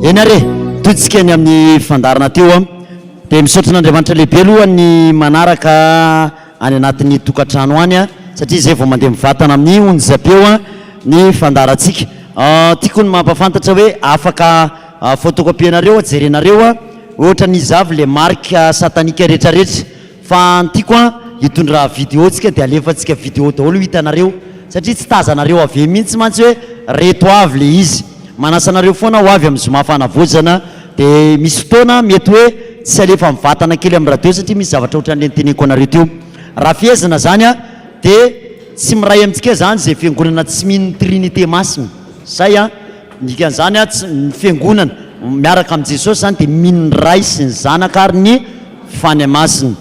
enare totsika ny amin'ny fandarana teo a dia misaotra an'andriamanitra lehibe aloha ny manaraka any anatin'ny tokantrano any a satria izay vao mandeha mivatana amin'ny onjapeo a ny fandarantsika tiako ny mampafantatra hoe afaka photocopie-nareo a jerenareo a ohatra ny izavy le marika satanika rehetrarehetra Fa ny tiako an, hitondra video tsika de alefantsika video daholo ho hitanareo satria tsy tazanareo avy eo mihintsy mantsy hoe reto avy le izy. Manasa anareo foana ho avy amin'ny zoma fanavaozana de misy fotoana mety hoe tsy alefa mivatana kely amin'ny radio satria misy zavatra ohatran'le noteneniko anareo teo. Raha fehezina zany an de tsy miray amintsika zany ze fiangonana tsy mino ny Trinite Masina. Zay an. Ny dikan'izany an, tsy ny fiangonana miaraka amin'i Jesosy izany dia mino ny Ray sy ny Zanaka ary ny Fanahy Masina.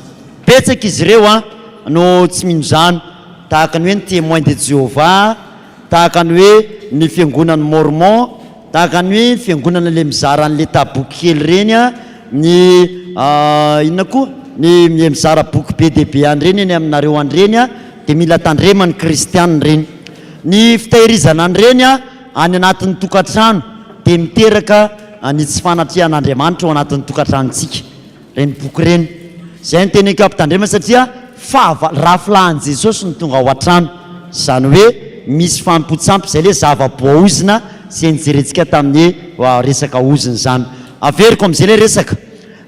Betsaka izy ireo an, no tsy mino izany, tahaka ny hoe ny Témoins de Jéhovah, tahaka ny hoe ny Fiangonan'i Mormon, tahaka ny fiangonana ilay mizara an'ilay taboky kely ireny an, ny inona koa, ny ilay mizara boky be dia be an'ireny eny aminareo an'ireny an, dia mila tandrema ny Kristiana ireny. Ny fitahirizana an'ireny an, Any anatin'ny tokantrano dia miteraka ny tsy fanatrehan'Andriamanitra ao anatin'ny tokantranontsika ireny boky ireny. Izay no teny ankapitandremana satria fahavalo, rafilahin'i Jesosy no tonga ao an-trano. Izany hoe misy fanompoan-tsampy, izay ilay zava-boaozona izay nijerentsika tamin'ny hoe resaka ozona izany. Averiko amin'izay ilay resaka.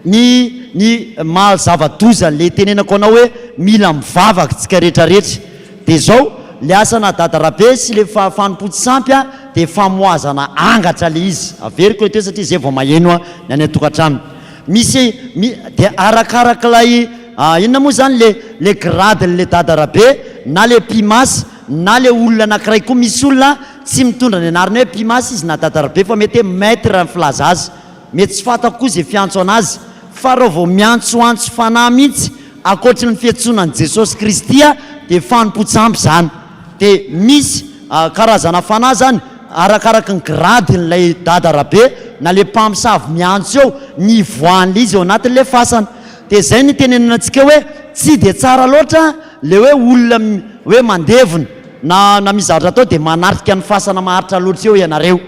Ny ny maha zava-doza le tenenako anao hoe mila mivavaka tsika rehetra rehetra de zao, le asana dada Rabe sy le fa fanompoa tsy sampy a de famoazana angatra le izy, averiko eto e satria zay vao maheno a ny any an-tokantrano misy mi de arakarak'ilay inona moa zany le le grade le dada Rabe na le pimas na le olona anakiray koa misy olona tsy mitondra ny anarany hoe pimas izy na dada Rabe fa mety hoe maitre filaza azy Mety tsy fantako koa izay fiantso an'azy, fa reo vao miantsoantso fanahy mintsy ankoatry ny fiantsoana an'i Jesosy Kristy a dia fanompoan-tsampy izany. Dia misy karazana fanahy izany arakaraky ny gradin'ilay dada Rabe na le mpamosavy miantso eo, ny hivoahan'le izy eo anatin'le fasana. Dia zay no itenenana antsika hoe tsy dia tsara loatra le hoe olona hoe mandevona na na misy zavatra atao dia manatrika ny fasana maharitra loatra eo ianareo.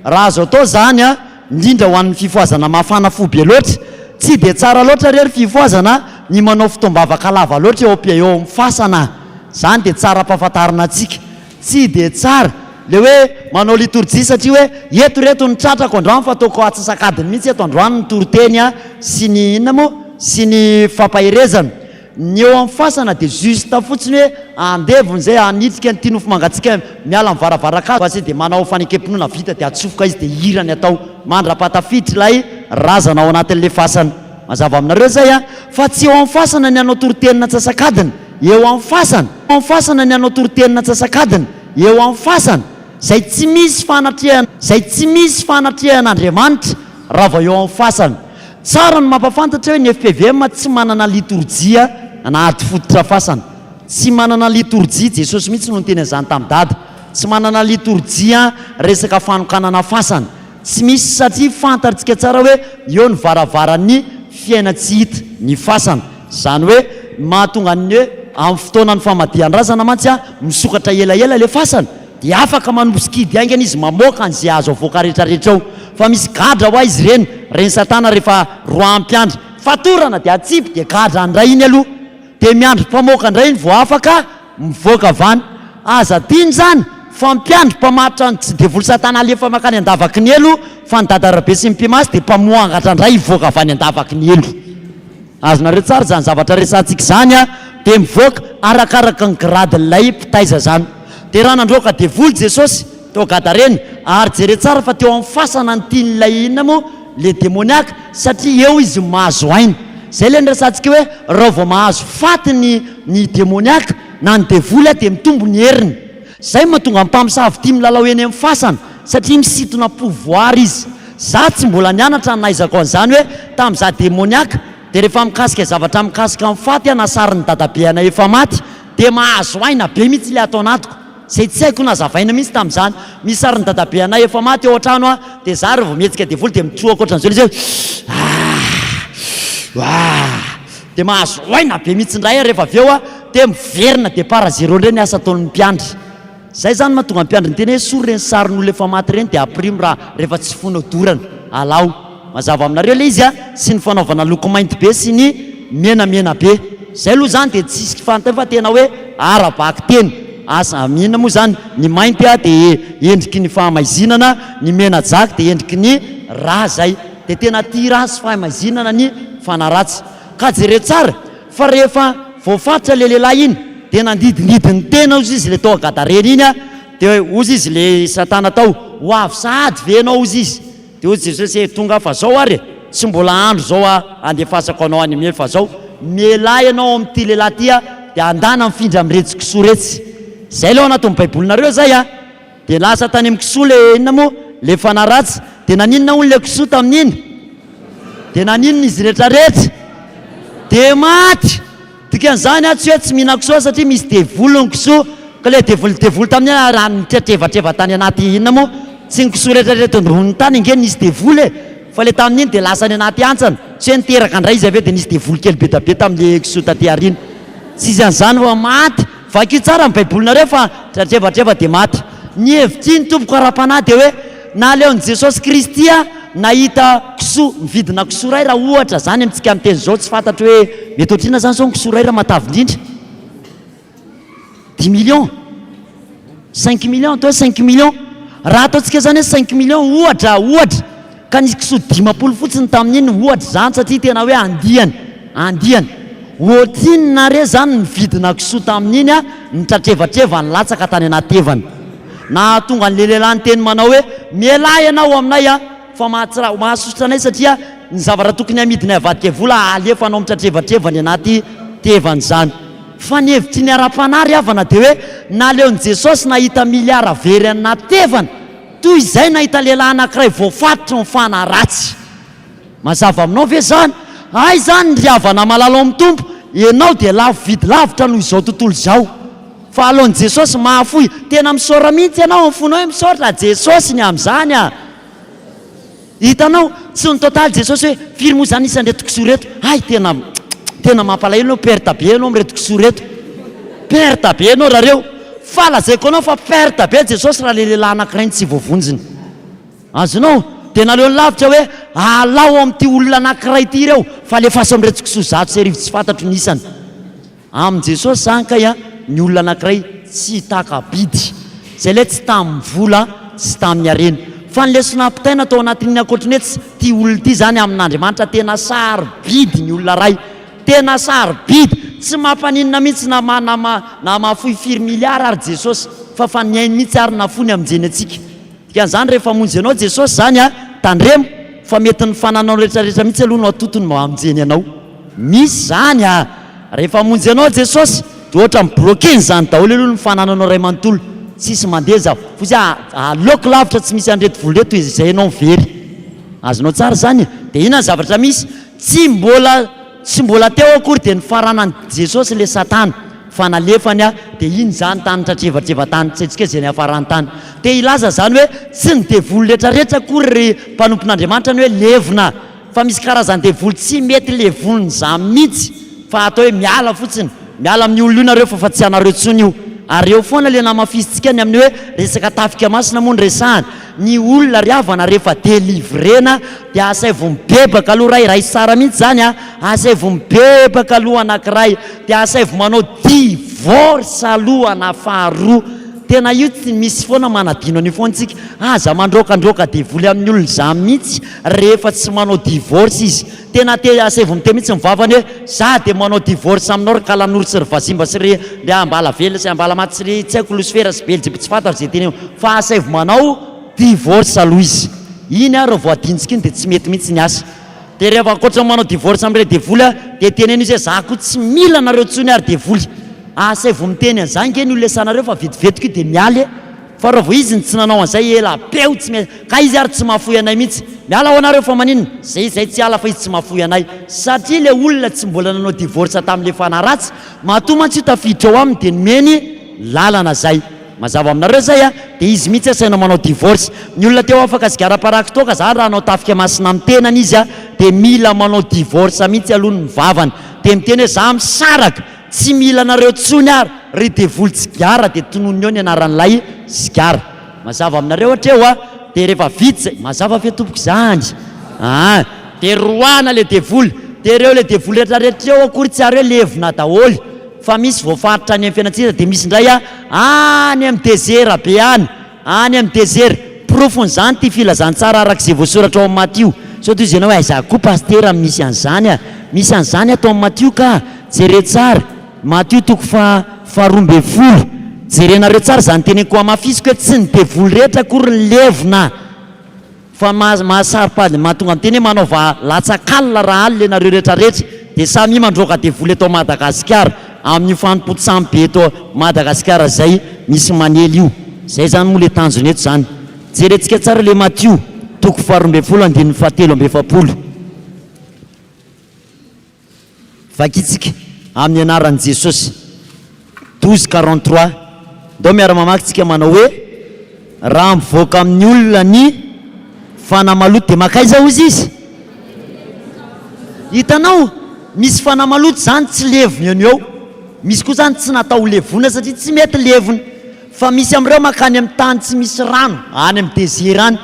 Raha azo atao izany a. indrindra ho an'ny fifohazana mafana fo be loatra, tsy dia tsara loatra re ry fifohazana ny manao fotoam-bavaka lava loatra eo am-pia eo amin'ny fasana a! izany dia tsara ampahafantarina antsika, tsy dia tsara ilay hoe manao litorjia satria hoe eto ireto ny tratrako androany fa ataoko antsasak'adiny mihintsy eto androany ny toriteny sy ny inona moa sy ny fampaherezana, Ny eo am fasana de juste fotsiny hoe andevony zay hanitsika an'ity nofo mangatsiaka miala am varavarankala basy de manao fanekem-pinoana vita de atsofoka izy de hira ny atao mandrapaha tafiditra ilay razana ao anatin'le fasana mazava aminareo zay an! Fa tsy eo am fasana ny hanao toritenin antsasakadiny eo am fasana eo am fasana ny hanao toritenin antsasakadiny eo am fasana zay tsy misy fanatrehana zay tsy misy fanatrehana Andriamanitra raha vao eo am fasana Tsara ny mampafantatra hoe ny FPVM tsy manana litorjia na ady fototra fasana. Tsy manana litorjia, Jesosy mihitsy no niteny an'izany tamin'i Dada. Tsy manana litorjia resaka fanokanana fasana. Tsy misy satria fantatrtsika tsara hoe eo ny varavaran'ny fiaina tsy hita ny fasana. Izany hoe ny mahatonga ny hoe amin'ny fotoanan'ny famadihan-drazana mantsy misokatra elaela ilay fasana. Dia afaka manompo sy kidy haingana izy mamoaka an'izay azo avoaka rehetra rehetra ao. Fa misy gadra hoa izy ireny, ren'i satana rehefa roaha mpiandry. Fatorana dia atsipy dia gadra andray iny aloha. Dia miandry mpamoaka indray iny vao afaka mivoaka avy any. Aza adino izany fa mpiandry mpamaritra ny tsy devoly satana alefa makany andavaky ny helo fa ny dadarabe sy ny mpimasy dia mpamoangatra indray hivoaka avy any andavaky ny helo. Azonareo tsara izany zavatra resahantsika izany an! Dia mivoaka arakaraka ny gradin'ilay mpitaiza izany. Dia raha nandroaka ny devoly Jesosy tao Gadarena, ary jereo tsara fa teo amin'ny fasana ny tian'ilay inona moa? ilay demoniaka, satria eo izy mahazo aina. Izay ilay niresahantsika hoe raha vao mahazo faty ny ny demoniaka na ny devoly dia mitombo ny heriny. Zay mahatonga ny mpamosavy tia milalao eny amin'ny fasana satria misintona pouvoir izy. Za tsy mbola nianatra ny nahaizako an'izany hoe tam za demoniaka de rehefa mikasika zavatra mikasika ny faty aho na sarin'ny dadabe anay efa maty de mahazo aina be mihitsy le ato anatiko zay tsy haiko nazavaina mihitsy tam'zany. Misy sarin'ny dadabe anay efa maty ao antrano a de za re vao mihetsika devoly de mitroa ankoatran'izao le izy hoe aah aah aah. Dia mahazo aina be mihitsy indray ary rehefa avy eo dia miverina dia par zero indray ny asa ataon'ny mpiandry. Izay izany mahatonga ny mpiandry niteny hoe sorry ireny sarin'olona efa maty ireny dia aprimo raha rehefa tsy fonao dorana. Alao. Mazava aminareo ilay izy an! Sy ny fanaovana loko mainty be sy ny menamena be. Izay aloha izany dia tsy isika fantany fa tena hoe ara-bakiteny. Asa am inona moa izany? Ny mainty dia endriky ny fahamaizinana, ny mena jaky dia endriky ny rà izay. Dia tena tia raha sy fahaimazinana ny fanaratsy. Ka jereo tsara fa rehefa voafaritra ilay lehilahy iny dia nandidindidy ny tena ozy izy le tao Gadarena iny dia ozy izy le satana tao ho avy sahady ve ianao ozy izy dia ozy Jesosy ee tonga fa zao ary e tsy mbola andro zao a andefasako anao any anie fa zao mialà ianao amin'ity lehilahy ty a dia andana mifindra amin'iretsy kisoa iretsy zay le ao anatin'ny baibolinareo zay a. Dia lasa tany amin'ny kisoa le inona moa le fanaratsy? Dia naninona hono le kisoa tamin'iny? Dia naninona izy rehetra rehetra? Dia maty! Dikan'izany aho tsy hoe tsy mihinan-kisoa satria misy devoly ny kisoa, ka le devoly devoly tamin'iny ary raha nitretrevatreva tany anaty inona moa? Tsy ny kisoa rehetra rehetra eto ambonin'ny tany ange nisy devoly e! Fa le tamin'iny dia lasa any anaty hantsana, tsy hoe niteraka indray izy avy eo dia nisy devoly kely be dia be tamin'le kisoa taty aoriana. Tsy izy an'izany fa maty! Vakio tsara ny baibolinareo fa dradrevatreva dia maty. Ny hevitr'i ny tompoko ara-panahy dia hoe naleon'i Jesosy Kristy nahita kisoa mividina kisoa iray raha ohatra izany amintsika miteny izao tsy fantatro hoe mety ohatr'inona izany izao ny kisoa iray raha matavy indrindra dimy millions cinq millions atao hoe cinq millions raha ataontsika izany hoe cinq millions ohatra ohatra Ka nisy kisoa dimampolo fotsiny tamin'iny ohatra izany satria tena hoe andiany, andiany. Ohatrinona re izany ny vidina kisoa tamin'iny an, ny tratrevatrevany latsaka tany anaty evana. Nahatonga an'ilay lehilahy niteny manao hoe, Mialà ianao aminay an, fa mahatsra, mahasosotra anay satria ny zavatra tokony hamidinay avadika ho vola alefa anao mitratrevatreva any anaty tevana izany. Fa ny hevitry ny ara-panahy ry havana dia hoe naleon'i Jesosy nahita miliara very any anaty tevana. Toy izay nahita lehilahy anankiray voafatotra ny fanahy ratsy. Mazava aminao ve izany? Hay izany ry havana malala ao amin'ny Tompo, ianao dia lafo vidy lavitra noho izao tontolo izao. Fa aloan'i Jesosy mahafoy, tena misaora mihitsy ianao ao amin'ny fonao hoe misaotra Jesosy ny amin'izany a! Hitanao, tsy nitotaly Jesosy hoe, firy moa izany isan'ireto kisoa ireto? Hay tena tena mampalahelo ianao, perte be ianao amin'ireto kisoa ireto. Perte be ianao rahareo. Fa lazaiko anao fa perte be Jesosy raha ilay lehilahy anankiray no tsy voavonjiny. Azonao? Dia naleony lavitra hoe, alao ao amin'ity olona anankiray ity ireo, fa alefaso amin'ireto kisoa zato sy arivo tsy fantatro ny isany. Amin'i Jesosy izany kay a, ny olona anankiray tsy taka-bidy, izay ilay tsy tamin'ny vola sy tamin'ny harena. Fa ny lesona ampitaina tao anatin'ny ankoatry ny hoe tsy tia olona ity izany amin'Andriamanitra, tena sarobidy ny olona ray, tena sarobidy. Tsy mampaninona mihitsy na ma na ma na mahafoy firy miliara ary Jesosy, fa fa ny ainy mihitsy ary nafoiny hamonjeny antsika. Dikan'izany rehefa hamonjy anao Jesosy izany a, tandremo fa mety ny fananao rehetra rehetra mihitsy aloha no atotony mba hamonjeny anao. Misy izany a! Rehefa hamonjy anao Jesosy dia ohatra ny broken izany daholo aloha ny fanananao iray manontolo, tsisy mandeha za, fotsy a, aleoko lavitra tsy misy an'ireto vola ireto izay ianao very. Azonao tsara izany e? Dia inona ny zavatra misy? Tsy mbola. Tsy mbola teo akory dia nifaranan'i Jesosy ilay satana fa nalefany a! dia iny izany tany tratrevatreva tany tsy haintsika izay niafarany tany. Te hilaza izany hoe tsy ny devoly retraretra akory ry mpanompon'Andriamanitra ny hoe levona fa misy karazany devoly tsy mety levonina izany mihitsy fa atao hoe miala fotsiny miala amin'io olona io nareo fa fa tsy anareo tsony io ary eo foana ilay namafisintsika ny amin'ny hoe resaka tafika masina moa no resahana Ny olona ry havana rehefa delivrena dia asaivo mibebaka aloha ray, raha i Sara mihitsy izany a, asaivo mibebaka aloha anankiray, dia asaivo manao divorce aloha na faharoa, tena io tsy misy foana manadino an'io foana tsika, aza mandroakandroaka devoly amin'ny olona izany mihitsy rehefa tsy manao divorce izy, Tena te hiasa evo mite mitsy ny vavany hoe za de manao divorce aminao ry kalanoro sy ry vazimba sy ry ry ambalavelona sy ambalamaty sy ry tsy aiko losifera sy beljiby tsy fantaro ze teneno fa asaivo manao divorce aloha izy iny ary vao adintsika iny de tsy mety mitsy ny asa de rehefa ankoatra ny manao divorce amle devoly a de teneno izy hoe za ko tsy mila anareo tsony ary devoly asaivo miteny anza nge ny ho lesanareo fa vetivetiko io de miala e. Fa raha vao izy no tsy nanao an'izay ela be aho tsy miha Ka izy ary tsy mahafoy anay mihitsy Miala ho anareo fa maninona Ze izay tsy hiala fa izy tsy mahafoy anay Satria ilay olona tsy mbola nanao divorce tamin'ilay fanahy ratsy Matoa mantsy io tafiditra ao aminy dia nomeny lalana zay Mazava aminareo zay a Dia izy mihitsy asaina manao divorce Ny olona te ho afaka sigara paraky toaka zany raha hanao tafika masina amin'ny tenany izy a Dia mila manao divorce mihitsy aloha ny vavany Dia miteny hoe za misaraka Tsy mila anareo tsony ary ry devoly tsigara de tononio ny anaran'ilay sigara mazava aminareo hatreo a de refa vita zay mazava ve tompoko zany aa de roahana le devoly de reo le devoly retra retra reo akory tsy ary hoe levona daholy fa misy voafaritra any am fiainantsika de misy ndray a any am desera be any Any amin'ny desert. Porofon'izany ity filazantsara arak'izay voasoratra ao amin'ny Matio. Sao tohizo ianao hoe aiza koa Pasitera no misy an'izany a! Misy an'izany ato amin'ny Matio kah! Jereo tsara, Matio toko faha faharoa ambin'ny folo. Jerenareo tsara izany teneniko hamafisiko hoe tsy ny devoly rehetra akory no levona. Fa ny maha saropady ny mahatonga ny teny hoe manaova latsak'alina raha alina ianareo retraretra dia samia mandroaka devoly eto Madagasikara amin'io fanompoan-tsambo be eto Madagasikara zay misy manely io zay zany moa le tanjona eto zany jerentsika tsara le Matio toko faharoa ambin'ny folo andininy fahatelo amby efapolo Vakintsika amin'ny anaran'i Jesosy. Douze quarante trois, ndao miara-mamaky tsika manao hoe, Raha mivoaka amin'ny olona ny fanahy maloto dia mankaiza hozy izy? Hitanao? Misy fanahy maloto izany tsy levona eo no eo. Misy koa izany tsy natao ho levona satria tsy mety levona. Fa misy amin'ireo mankany amin'ny tany tsy misy rano, any amin'ny desert any.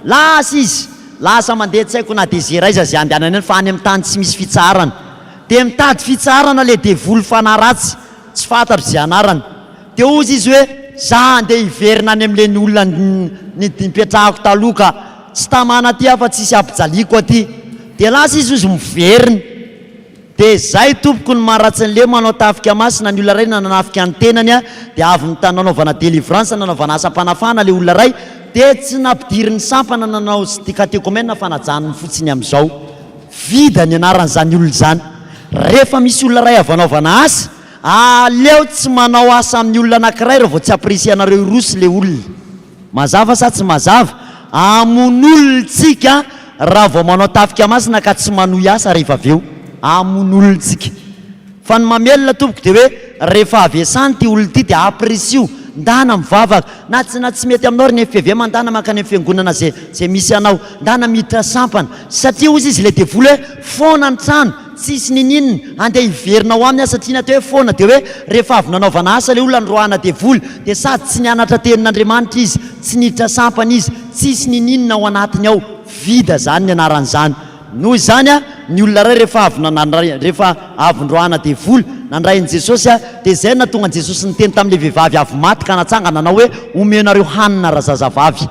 Lasa izy. Lasa mandeha tsy haiko na dia zera aiza zay andehanany any fa any amin'ny tany tsy misy fitsaharana. Dia mitady fitsaharana ilay devoly fanahy ratsy tsy fantatro izay anarany. Dia hozy izy hoe za handeha hiverina any amin'ilay olona nipetrahako taloha ka. Tsy tamana aty aho fa tsy hisy hampijaliako aty. Dia lasa izy hozy miverina. Dia izay tompoko ny maharatsy ny lemo hanao tafika masina ny olona iray nanafika ny tenany a dia avy ny tany nanaovana délivrance nanaovana asam panafahana le olona iray dia tsy nampidiriny sampana nanao sy dikatekomena fanajanony fotsiny amizao vida ny anarany zany olona zany refa misy olona iray avy anaovana asa aleo tsy manao asa aminy olona anakiray raha vao tsy apirisianareo hiroso le olona. Mazava sa tsy mazava? Hamono olon-tsika raha vao manao tafika masina ka tsy manohy asa rehefa avy eo. Hamono olon-tsika. Fa ny mamelona tompoko dia hoe rehefa avy esany ity olona ity dia hampirisiho, ndana mivavaka, na tsy na tsy mety aminao ry nfvm ndana mankany amin'ny fiangonana izay izay misy anao, ndana miditra sampana, satria hozy izy ilay devoly hoe foana ny trano, Tsisy ninin andeha hiverina ao aminy aho satria na teo hoe foana dia hoe rehefa avy nanaovana asa ilay olona noroahana devoly dia sady tsy nianatra tenin'Andriamanitra izy, tsy niditra sampana izy, tsisy nininona ao anatiny ao, vida zany ny anaran'izany. Noho izany a, ny olona iray rehefa avy nandray rehefa avy noroahana devoly, nandray an'i Jesosy a, dia izay no nahatonga an'i Jesosy niteny tamin'ilay vehivavy avy maty ka natsangana nanao hoe omeo nareo hanina razazavavy.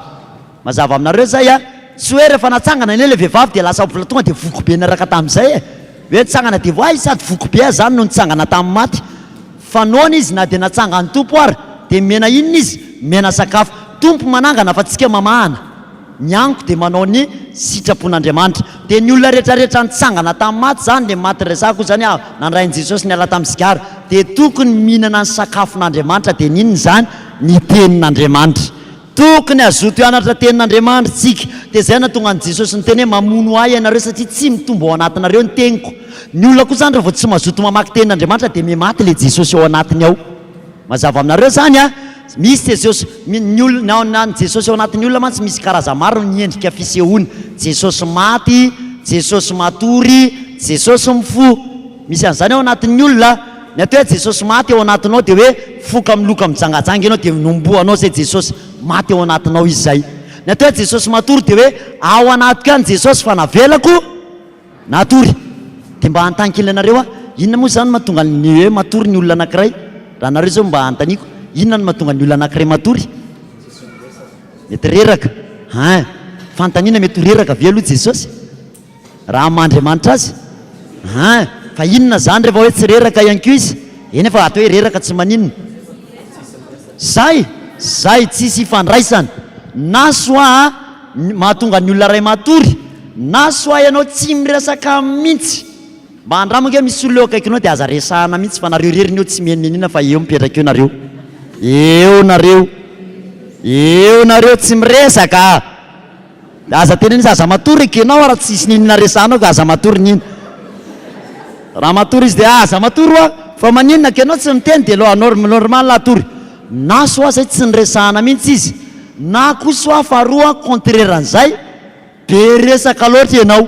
Mazava aminareo zay a! Tsy hoe rehefa natsangana anie le vehivavy dia lasa mbola tonga dia voky be niaraka tamin'izay e! Hoe nitsangana dia voay sady voky be aza zany no nitsangana tamin'ny maty! Fa noana izy na dia natsangan'ny Tompo ary dia mena inona izy? Mena sakafo! Tompo manangana fa tsika mamahana! Ny anko dia manao ny sitrapon'Andriamanitra! Dia ny olona retraretra nitsangana tamin'ny maty zany le maty resako io zany avy nandrain'i Jesosy niala tamin'ny sigara dia tokony mihinana ny sakafon'Andriamanitra dia ny inona izany? Ny tenin'Andriamanitra! Tokony hazoto hianatra tenin' Andriamanitr tsika. Dia izay nahatonga an'i Jesosy niteny hoe mamono ahy ianareo satria tsy mitombo ao anatinareo ny teniko. Ny olona koa izany raha vao tsy mazoto mamaky tenin' Andriamanitra dia mihamaty ilay Jesosy ao anatiny ao. Mazava aminareo izany an? Misy Jesosy, ny olona, ny an'i Jesosy ao anatin'ny olona mantsy misy karazany maro ny endrika fisehoany, Jesosy maty, Jesosy matory, Jesosy mifoha. Misy an'izany ao anatin'ny olona, ny atao hoe Jesosy maty ao anatinao dia hoe foka miloka mijangajanga ianao dia nombohanao izay Jesosy maty ao anatinao izy izay. Ny atao hoe Jesosy matory dia hoe ao anatiko any Jesosy fa navelako natory. Dia mba hanontany kely anareo aho, inona moa izany mahatonga ny hoe matory ny olona anankiray? Raha anareo izao mba anontaniako, inona no mahatonga ny olona anankiray matory? Mety reraka, hein! Fanontaniana, mety ho reraka ve aloha Jesosy? Raha maha Andriamanitra azy? Hein! Fa inona zany refa hoe tsy reraka ihany koa izy? Eny fa ato hoe reraka tsy maninona. Zay! Zay! Tsisy ifandraisany! Na soit a ny mahatonga ny olona ray matory, na soit ianao tsy miresaka mintsy! Mba andramo ange misy olona eo akaikinao de aza resahana mintsy fa nareo reriny eo tsy mienenena fa eo mipetraka eo nareo! Eo nareo! Eo nareo tsy miresaka! Aza tena izy aza matory gy enao raha tsisy n'inona resahanao ka aza matory n'ino raha matory izy dia aza matory hoa fa maninona gy enao tsy miteny dia lò norm normal hatory na soit zay tsy niresahana mihintsy izy na koa soit faharoa contraire an'izay be resaka loatra enao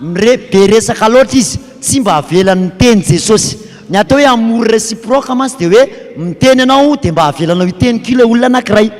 Mire be resaka loatra izy, tsy mba avelany miteny Jesosy. Ny atao hoe amour reciproque mantsy dia hoe miteny ianao dia mba avelanao hiteny koa ilay olona anakiray.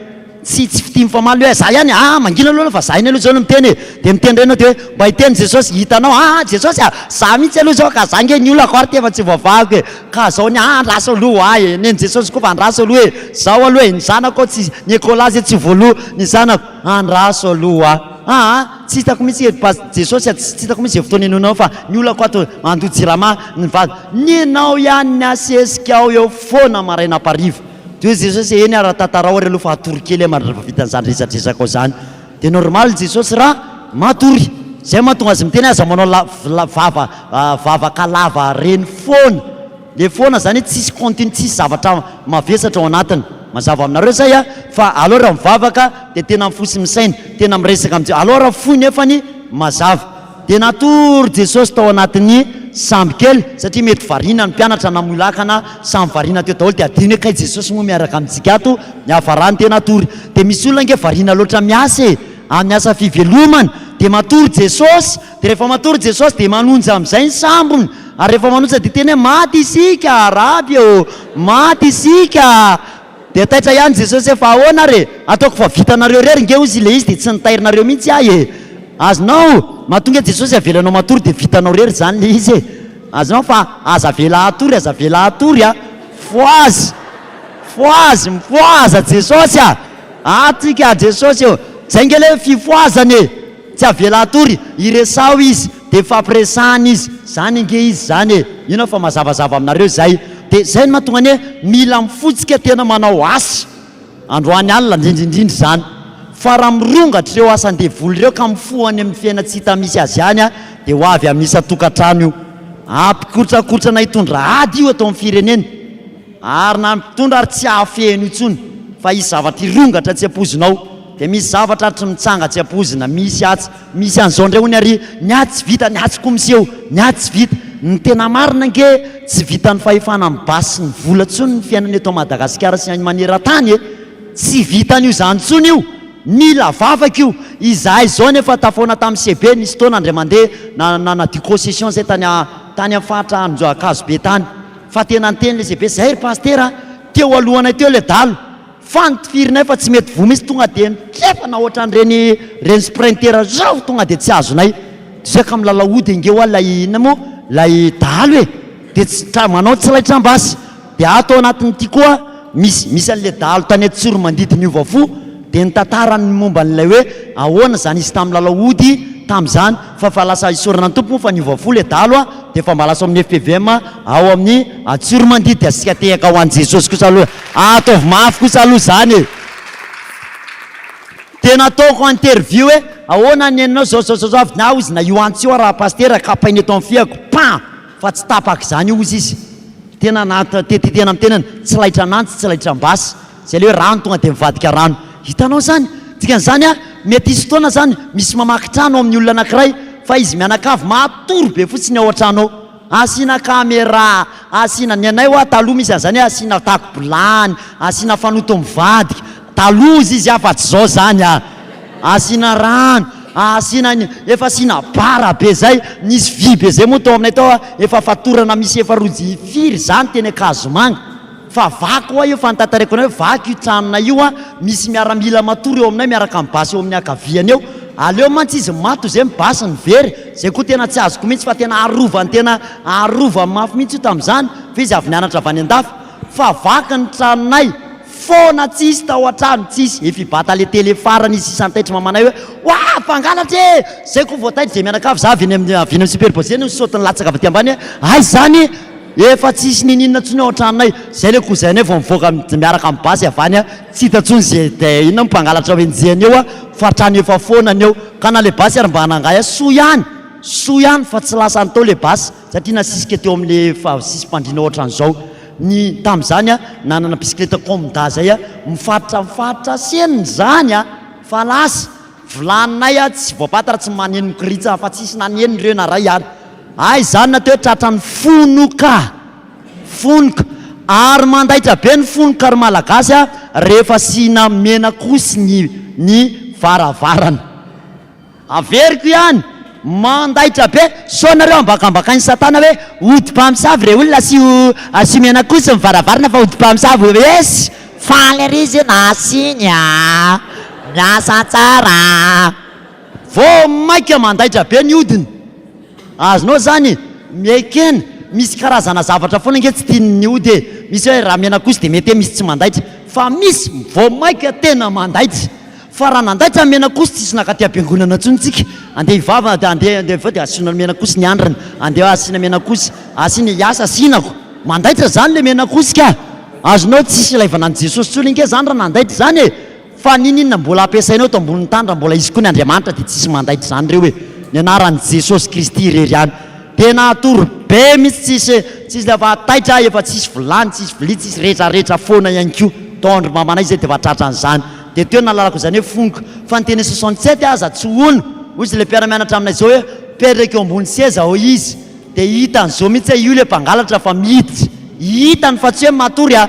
Tsy tsy fitia mifamaly hoe za ihany, aa mangina aloha fa za ihany aloha zao no miteny e! Dia miteny indray ianao dia hoe mba hiteny Jesosy, hitanao aa Jesosy a! za mihitsy aloha zao ka za nge ny olako ary tefa tsy voavahako e! ka zao ny ahy andraso aloha ho ahy e! nen'i Jesosy koa fa andraso aloha e! zao aloha e! ny zanako ao tsy, ny ekolà zay tsy voaloa, ny zanako, andraso aloha ho ahy aa! Tsy hitako mihitsy ery Pasy Jesosy a, tsy hitako mihitsy izay fotoana henoinao fa ny olako ato handoa jirama ny vady, nenao ihany ny hasesikao eo foana marainam-pariva de hoe Jesosy e, eny ara tantarao ary aloha fa hatory kely aho rehefa vita an'izany resadresakao izany de normal Jesosy ra matory, zay mahatonga azy miteny hoe aza manao la vava vavaka lava reny foana. Le foana zany hoe tsisy continue tsisy zavatra mavesatra ao anatiny mazava aminareo zay a fa aleo raha mivavaka de tena mifoha sy misaina tena miresaka am aleo raha fohy nefany mazava de natory Jesosy tao anatin'ny sambo kely satria mety variana ny mpianatra namoy lakana samy variana teo daholo de adino hoe kay Jesosy moa miaraka amintsika ato niafarany de natory de misy olona ange variana loatra miasa e amin'ny asa fivelomany de matory Jesosy Dia rehefa matory Jesosy dia manonja amin'izay ny sambony, ary rehefa manonja dia hiteny hoe, Maty isika, Raby ô! Maty isika! Dia taitra ihany Jesosy hoe, Fa ahoana ary e? Ataoko fa vitanareo irery nge, hozy ilay izy, dia tsy nitairinareo mihitsy ahy e! Azonao? Mahatonga ahy Jesosy avelanao matory dia vitanao irery izany ilay izy e! Azonao? Fa aza avela hatory, aza avela hatory a! Fohazy! Fohazy! Mifohaza Jesosy a! Atika Jesosy ô! Izay nge ilay fifohazana e! Tsy avela hatory, iresaho izy de mifampiresahana izy, zany ange izy zany e, ino aho fa mazavazava aminareo izay, de zay no mahatonga anie mila mifotska tena manao asa androany alina ndrindrindrindra izany, fa raha mirongatra ireo asan-devoly ireo ka mifoha any amin'ny fiaina tsy hita misy azy any de ho avy amin'ny isan-tokantrano io, hampikotrakotrana hitondra ady io eto amin'ny firenena. Ary na ny mpitondra ary tsy hahafeno intsony fa hisy zavatra hirongatra tsy ampoizina ao dia misy zavatra ary tsy mitsanga tsy ampoizina misy atsy misy an'izao indray hono ary ny atsy tsy vita ny atsy koa miseho ny atsy tsy vita ny tena marina ange tsy vitan'ny fahefana amin'ny basy sy ny vola intsony ny fiainana eto Madagasikara sy any manerantany e tsy vitan'io izany intsony io mila vavaka io izahay izao anie efa tafaona tamin'ny CB nisy fotoana indray mandeha na nanadio concession izahay tany tany amin'ny faritra Ankazobe tany Fa tena niteny lesy be zay ry Pasitera a! Teo alohanay teo le dalo fa notifirinay fa tsy mety voa mintsy tonga de nitrefana ohatran'ireny reny sprinter reny tonga de tsy azonay ze ka milalao hody engeo a lay inona mo lay dalo e! de tsy tra manao tsy laitra ambasy de ato anatin'ity koa misy misy an'le dalo tany Tsorimandity niova fo de nitantara ny momba an'ilay hoe ahoana zany izy tamin'ny lalao hody tamin'izany Fa fa lasa isaorana ny Tompo moa fa niova fo le dalo a! de efa mba lasa ao amin'ny FPVM ao amin'ny Antsoromandia de asika tehaka ho an'i Jesosy kosa aloha a! ataovy mafy kosa aloha zany e! de nataoko interview hoe ahoana ny nenao zao zao zao avy naho izy na io antsy io araha Pasitera kapaina eto amin'ny fihako pam! fa tsy tapaka izany hozy izy tena naha te te tena mitenena tsy laitra anantsy tsy laitra ambasy Izay ilay hoe rano tonga dia mivadika rano. Hitanao izany? Dikan'izany an, mety hisy fotoana izany misy mamaky trano ao amin'ny olona anankiray, fa izy mianakavy matory be fotsiny ao an-trano ao. Asiana camera, asiana, ny anay ho'a taloha misy an'izany hoe asiana tako-bilany, asiana fanoto mivadika, taloha izy izy an, fa tsy izao izany an. Asiana rano, asiana ny, efa asiana bara be izay, nisy vy be izay moa tao aminay tao an, efa fatorana misy efa roa jihy firy izany teny Ankazomanga. Fa vaky hoa io fantatareko anay hoe vaky io tranonay io an! Misy miaramila matory eo aminay miaraka amin'ny basy eo amin'ny ankaviany eo. Aleo mantsy izy maty ozay ny basy no very! Zay koa tena tsy azoko mihitsy fa tena arovany tena arovany mafy mihitsy io tamin'izany fa izy avy nianatra avy any an-dafy. Fa vaky ny tranonay foana tsy hisy tao an-trano tsy hisy. Efa i Bata le tele farany izy sisa nitaitry mamanay hoe Oah! Mpangalatra e! Zay koa vao taitry dia mianakavy za avy eny amin'ny avy eny amin'ny superposé no nisaoty nilatsaka avy aty ambany hoe aiza izany? Efa tsisy nininona tsony ao an-tranonay, zay le cousin-nay vao mivoaka miaraka amin'ny basy avy any a, tsy hita tsony ze dia inona mo mpangalatra ao enjehina eo a, fa trano efa foana ny eo, ka na le basy ary mba anangahy a, soa ihany, soa ihany fa tsy lasany tao le basy satria nasisika teo amin'ny le efa sisim-pandriana ohatran'izao ny tamin'izany a, nanana bisikileta comda zay a, mifaritra mifaritra seny izany a, fa lasa, vilaninay a, tsy voapatatra, tsy maneno mikiritsa fa tsisy naneno ireo na ray ary. Hay izany na toe tratran'ny fonoka, fonoka, ary mandaitra be ny fonoka ry Malagasy a, rehefa asiana menak'osy ny ny varavarana. Averiko ihany, mandaitra be, sao nareo ambakambakain'i satana hoe ody mpamosavy re olona asio asio menak'osy ny varavarana fa ody mpamosavy ess, faly ery izy io nasiany a, miasa tsara a. Vao maika mandaitra be ny hodiny. Azonao zany miekena, misy karazana zavatra foana nge tsy tiany ny hody e, misy hoe raha mena kosa de mety hoe misy tsy mandaitra, fa misy vao maika tena mandaitra, fa raha nandaitra ny menak'osy tsisy nakaty am-piangonana tsony tsika, andeha hivavaka de andeha andeha avy eo de asiana menak'osy ny andrana, andeha asiana menak'osy, asiana hiasa asianako, mandaitra zany le menak'osy ka! azonao tsisy ilaivana an'i Jesosy tsony nge zany raha nandaitra zany e! Fa niniana mbola ampiasainao eto ambonin'ny tany raha mbola izy koa ny Andriamanitra dia tsisy mandaitra izany ireo e! Ny anaran'i Jesosy Kristy irery ihany! Tena hatory be mihitsy tsisy tsisy le fa taitra efa tsisy vilany tsisy vilia tsisy retraretra foana ihany koa! Tao an-dry mamanay izay dia efa tratra an'izany! Dia teo nahalalako izany hoe foniko! Fa ny teny soixante sept aza tsy hono! Hoy izy le mpiara-mianatra aminay izao hoe mipetraka eo ambony seza ao izy dia hitany izao mihitsy hoe io le mpangalatra fa miditra! Hitany fa tsy hoe matory a!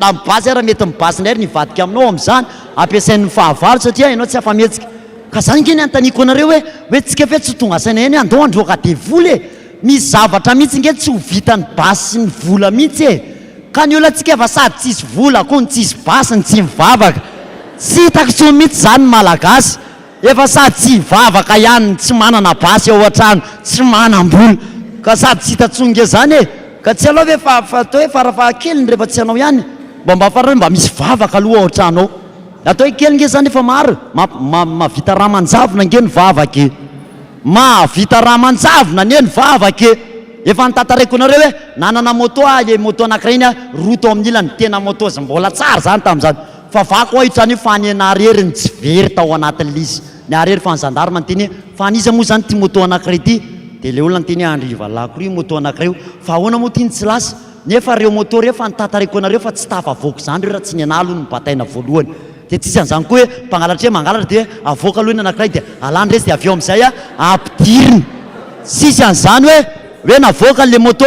Na mibazy ary mety mibazy indray ry nivadika aminao amin'izany, ampiasainy ny fahavalo satria ianao tsy afa-mihetsika. Ka izany ange ny anontaniko anareo hoe, hoe tsika ve tsy ho tonga saina ihany hoe andao handroaka devoly e! Misy zavatra mihitsy ange tsy ho vitan'ny basy sy ny vola mihitsy e! Ka ny olantsika efa sady tsy hisy vola, koa ny tsy hisy basy, ny tsy mivavaka. Tsy hitako intsony mihitsy izany ny Malagasy. Efa sady tsy hivavaka ihany ny tsy manana basy ao an-trano, tsy manam-bola, ka sady tsy hita intsony nge zany e! Ka tsy aleo ve fa atao hoe fara fahakeliny rehefa tsy anao ihany mba mba farany hoe mba misy vavaka aloha ao an-trano ao. Atao hoe kely nge zany efa maro e! Ma ma mahavita rà aman-javona nge ny vavaka e! Mahavita rà aman-javona anie ny vavaka e! Efa notantareko anareo hoe nanana moto aho, le moto anakiray iny an, roa tao amin'ny ilany, tena moto mbola tsara zany tamin'izany, Favako ho'a i Tsaniho fa anie Naharery ny tsy very tao anatin'i Lisy. Niharery fa ny zandarma niteny hoe, fa an'iza moa izany ity moto anankiray ity? Dia ilay olona niteny hoe, andry valahiko ireo io moto anankiray io. Fa ahoana moa ity ny tsy lasa? Nefa ireo moto ireo efa notantariko anareo fa tsy tafavoaka izany ireo raha tsy ny anà aloha no bataina voalohany. Dia tsy izy an'izany koa hoe, mpangalatra hoe mangalatra dia hoe avoaka aloha ny anankiray dia alàny resy dia avy eo amin'izay ampidirina. Tsy izy an'izany hoe, hoe navoaka an'ilay moto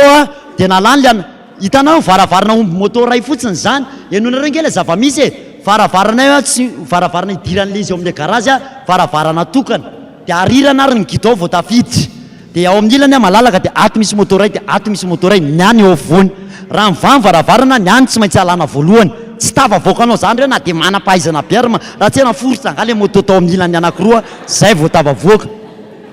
dia nalàny ilay anankiray. Hitanao, varavarana omby moto iray fotsiny izany. Henoinareo ange ilay zava-misy e! Varavarana io tsy varavarana idiran'ilay izy ao amin'ilay garazy, varavarana tokana. Dia arirana ary ny gidon vao tafiditra. Dia ao amin'ny ilany malalaka dia ato misy moto iray, dia ato misy moto iray, ny any eo afovoany. Raha mivaha ny varavarana, ny any tsy maintsy alana voalohany. Tsy tafavoakanao izany ireo na dia manam-pahaizana be ary ma. Raha tsy hay naforitra angaha ilay moto tao amin'ny ilany anankiroa, izay vao tafavoaka.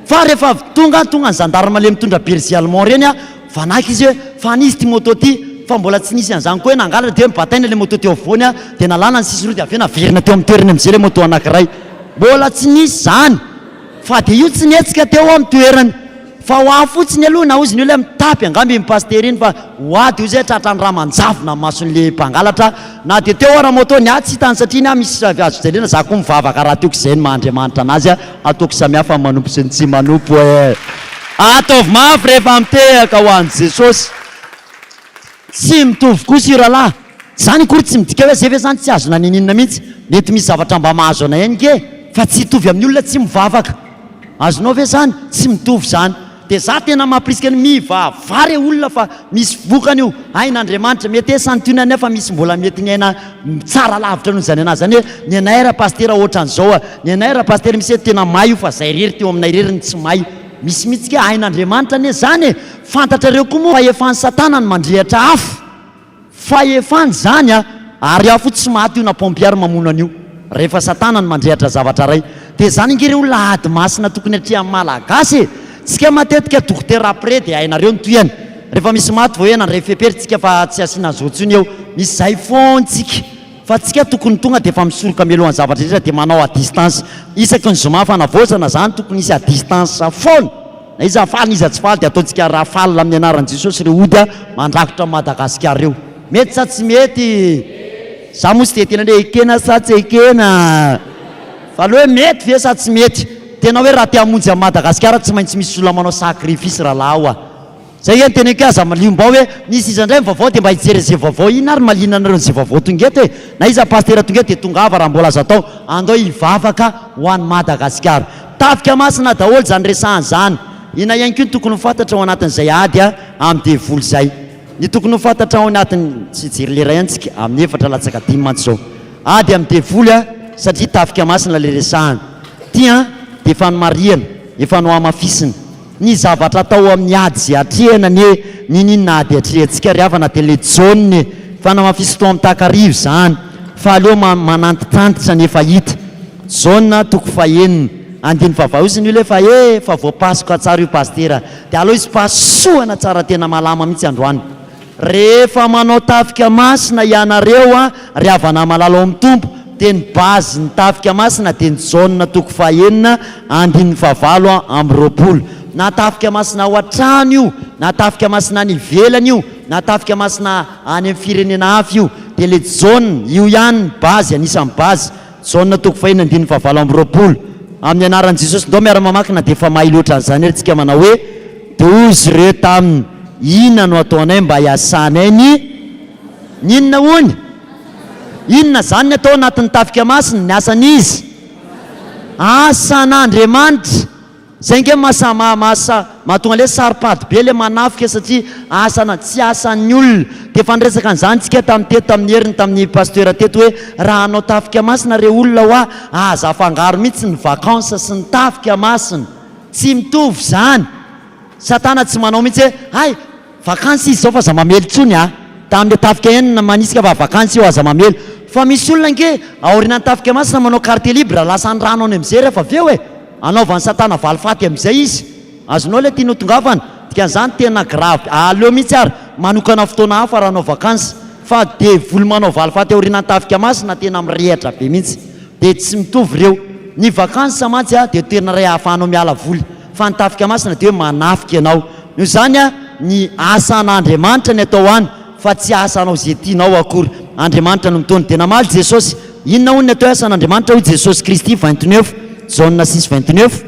Fa rehefa avy tonga, tonga ny zandary malemy mitondra berger allemand ireny, Vanaka izy hoe, fa an'iza ity moto ity? fa mbola tsy nisy an'izany koa hoe nangalatra dia hoe nibataina ilay moto teo afovoany dia nalana ny sisiny roa dia avy eo naverina teo amin'ny toerany amin'izay ilay moto anankiray. Mbola tsy nisy izany fa dia io tsy nihetsika teo amin'ny toerany fa ho ahy fotsiny aloha na hozy ny olona hoe mitapy angamba iny pasitera iny fa ho ahy dia hoy izay tratran'ny rà manjavona ny mason'ilay mpangalatra na dia teo ara moto ny ahy tsy hitany satria ny ahy misy azo fijaliana za koa mivavaka rahateo koa izay ny maha Andriamanitra anazy Ataoko samihafa ny manompo sy ny tsy manompo e! Ataovy mafy rehefa mitehaka ho an'i Jesosy. Tsy mitovy kosa io rahalahy. Izany akory tsy midika hoe izay ve izany tsy azona niniana mihitsy. Mety misy zavatra mba mahazo anay ihany ange fa tsy hitovy amin'ny olona tsy mivavaka. Azonao ve izany? Tsy mitovy izany. Dia za tena mampirisika ny mivavah re olona fa misy vokany io, hain Andriamanitra, mety hoe santionany aho fa misy mbola mety ny aina tsara lavitra noho izany anah zany hoe ny anay ra Pasitera otran zao a, ny anay ra Pasitera misy eto tena may io fa zay rery teo aminay rery no tsy may, misy mitsy ka hain Andriamanitra anie zany e, fantatrareo koa moa fa efa ny satana no mandrehatra afo. Fahefany zany a! Ary afo tsy maty io na pompier mamono an'io rehefa satana no mandrehatra zavatra ray de zany ange reo la ady masina tokony atrehan'ny malagasy e! Tsika matetika dokotera après de hainareo ny tohiny rehefa misy maty vao hena ndray fepery tsika fa tsy asiana zo tsony eo misy zay fon tsika Fa tsika tokony tonga dia efa misoroka mialohan'ny zavatra rehetra dia manao à distance isaky ny zoma fanavaozana zany tokony hisy à distance foana na iza faly na iza tsy faly dia ataontsika rafale amin'ny anaran'i Jesosy ireo ody mandrakotra an'i Madagascar ireo. Mety sa tsy mety? Za moa tsy dia tena hoe ekena sa tsy ekena fa aleo hoe mety ve sa tsy mety? Tena hoe raha te hamonjy an'i Madagascar tsy maintsy misy olona manao sacrifice rahalahy o! Zay e ny teneko e aza malio mbao e misy iza ndray ny vaovao de mba hijery anze vaovao iny ary malina anareo anze vaovao tonga eto e na iza pasitera tonga eto de tongava raha mbola azo atao andao hivavaka ho an'i Madagasikara tafika masina daholo zany resahany zany ina ihany koa ny tokony ho fantatra ao anatin'izay ady amin'ny devoly zay ny tokony ho fantatra ao anatin'ny tsy hijery lera ihany tsika amin'ny efatra latsaka dimy mantsy zao ady amin'ny devoly a satria tafika masina le resahany ty an de efa nomarihana efa nohamafisina Ny zavatra atao amin'ny ady ze atrehina anie niniana ady atrehantsika ry havana de le John e! Fanamafisitro am takariva izany fa aleo manantitantitra ny efa hita. John toko fahenina andininy fahavalo izy no le fa e! fa voapasoka tsara io pasitera de aleo izy pasohana tsara tena malama mihitsy androany. Rehefa manao tafika masina hianareo an ry havana malala ao amin'ny Tompo dia ny base ny tafika masina dia ny Jaona toko faha enina andininy faha valo amby roapolo. Na tafika masina ao an-trano io na tafika masina any ivelany io na tafika masina any amin'ny firenena hafa io dia ilay Jaona io ihany ny base anisan'ny base. Jaona toko fahiny andininy fahavalo amby roapolo Amin'ny anaran'i Jesosy ndao miara-mamaky na dia efa mahay loatra an'izany ary tsika manao hoe, Dia hoy izy ireo taminy, Inona no ataonay mba hiasanay ny Ny inona hono? Inona izany ny atao ao anatin'ny tafika masina? Ny asan'izy? Asan'Andriamanitra! Zay ange ny maha maha mahatonga le saro-pady be le manafika satria asa na tsy asan'ny olona. De efa niresaka an'izany tsika tamin'ny teto tamin'ny heriny tamin'ny pasteur teto hoe raha hanao tafika masina re olona hoa aza afangaro mihitsy ny vacances sy ny tafika masina. Tsy mitovy zany. Satana tsy manao mihitsy hoe hay Vakansy izy zao fa aza mamely intsony a! Tamle tafika enina manisika fa vakansy io aza mamely! Fa misy olona ange aorianan'ny tafika masina manao carte libre lasa any rano any amzay refa avy eo e! Anaovan'i satana valifaty amzay izy! Azonao le tianao tongavana! Dikan'izany tena gravy! Aleo mihitsy ary manokana fotoana hafa raha hanao vakansy! Fa devoly manao valifaty aorianan'ny tafika masina tena mirehatra be mihitsy! Dia tsy mitovy ireo! Ny vakansy mantsy dia toerana iray ahafahanao miala voly! Fa ny tafika masina dia hoe manafika ianao. Noho izany, ny asan'Andriamanitra ny atao any, fa tsy asa hanao izay tianao akory. Andriamanitra no mitondra. Dia namaly Jesosy. Inona hono ny atao hoe asan'Andriamanitra? Hoy Jesosy Kristy, vingt neuf, Jaona six, vingt neuf.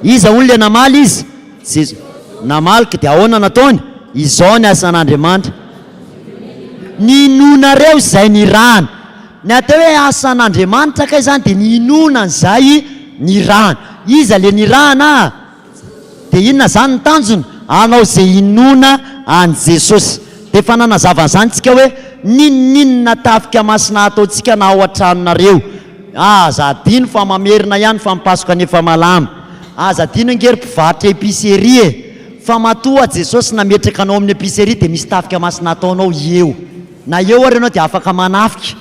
Iza hono ilay namaly Izy? Jesosy. Namaly ka dia ahoana no ataony? Izao ny asan'Andriamanitra. Ny inoanareo izay nirahany. Ny atao hoe asan'Andriamanitra kay zany dia ny inoana an'izay nirahana. Iza le nirahana a? Dia inona zany ny tanjona? Hanao ze inoana an'i Jesosy. Dia efa nanazava an'izany tsika hoe n'inon'inona tafika masina ataontsika na ao an-tranonareo. Aza adino fa mamerina ihany fa ny Paska ny efa malama. Aza adino ange ry mpivarotra epicerie e! Fa matoa Jesosy nametraka anao amin'ny epicerie dia misy tafika masina ataonao eo. Na eo ary ianao dia afaka manafika.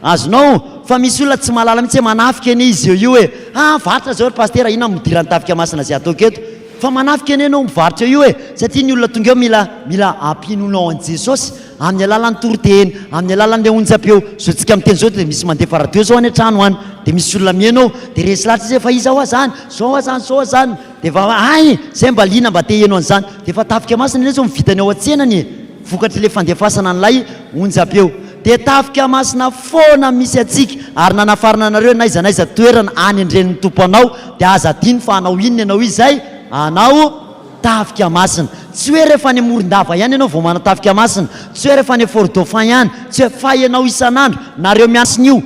Azonao, fa misy olona tsy mahalala mihitsy hoe manafika anie izy eo io e! Ha varotra zao ry Pasitera, inona midiran'ny tafika masina zay ataoko eto? Fa manafika anie ianao mivarotra io e! Satria ny olona tonga eo mila, mila ampinoanao an'i Jesosy, amin'ny alalan'ny toriteny, amin'ny alalan'ilay onjam-peo. Zao tsika miteny zao dia misy mandefa radio zao any an-trano any, dia misy olona mihaino ao, dia resy lahatra izy hoe fa iza hoa zany? Zao hoa zany, zao hoa zany. Dia efa, hay! Zay mba liana mba te hihaino an'izany. Dia efa tafika masina ilay izy vao vita ny ao an-tsenany e! Vokatr'ilay fandefasana an'ilay onjam-peo, dia tafika masina foana misy antsika, ary nanafarana anareo n'aiza n'aiza toerana any an-dRenin'ny Tompo anao, dia aza adino fa hanao inona ianao izay? Hanao tafika masina. Tsy hoe rehefa any Morondava ihany ianao vao manao tafika masina, tsy hoe rehefa any Fort Dauphin ihany, tsy hoe, fa ianao isan'andro, nareo miasina io.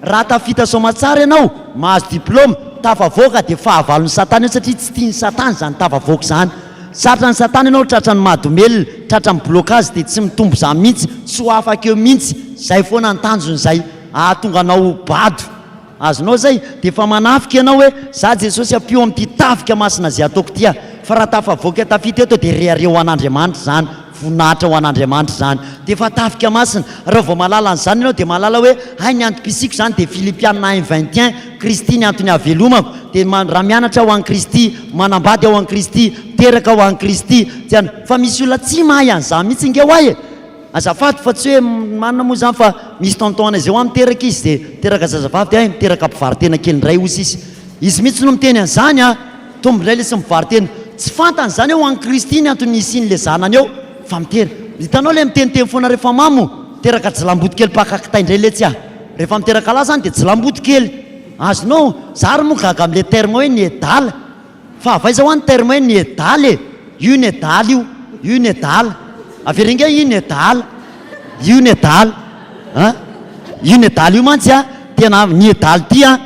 Raha tafita soamatsara ianao, mahazo diplaoma, tafavoaka, dia fahavalon'i Satana io, satria tsy tian'i Satana izany tafavoaka izany. Tratra ny satana ianao tratra ny madomelina tratra ny blocage dia tsy mitombo zany mintsy tsy ho afaka eo mintsy zay foana ny tanjony zay ahatonga anao ho bado azonao zay dia efa manafika ianao hoe za jesosy ampio amin'ity tafika masina zay ataoko ity aho fa raha tafavoaka tafita eto dia rehareo ho an'Andriamanitra zany Voninahitra ho an'Andriamanitra izany. Dia efa tafika masina. Raha vao mahalala an'izany ianao, dia mahalala hoe, hay ny antom-pisiako izany dia Filipiana un vingt et un, Kristy ny antony hahavelomako. Dia ma, raha mianatra aho an'i Kristy, manambady aho an'i Kristy, miteraka aho an'i Kristy, tsy an. Fa misy olona tsy mahay an'izany mihitsy ange ho'ahy e! Azafady fa tsy hoe marina moa izany fa misy tonton-nay izay ho'ahy miteraka izy dia miteraka zazavavy dia hay miteraka mpivaro-tena kely indray osa izy. Izy mihitsy no miteny an'izany an! Mitombo indray lesy mivaro-tena. Tsy fantany izany hoe ho an'i Kristy ny antony nisian'ilay zanany eo fa mitera. Hitanao ilay miteniteny foana rehefa mamo? Teraka jilamboto kely mpaka kitay indray letsy aho. Rehefa miteraka lahy izany dia jilamboto kely. Azonao? Za ary moa gaga amin'ilay terme hoe nedala. Fa avy aiza hoa ny terme hoe nedala e? Io nedala io. Io nedala. Avereno ingahy io nedala. Io nedala. An? Io nedala io mantsy an, tena niedala ity an.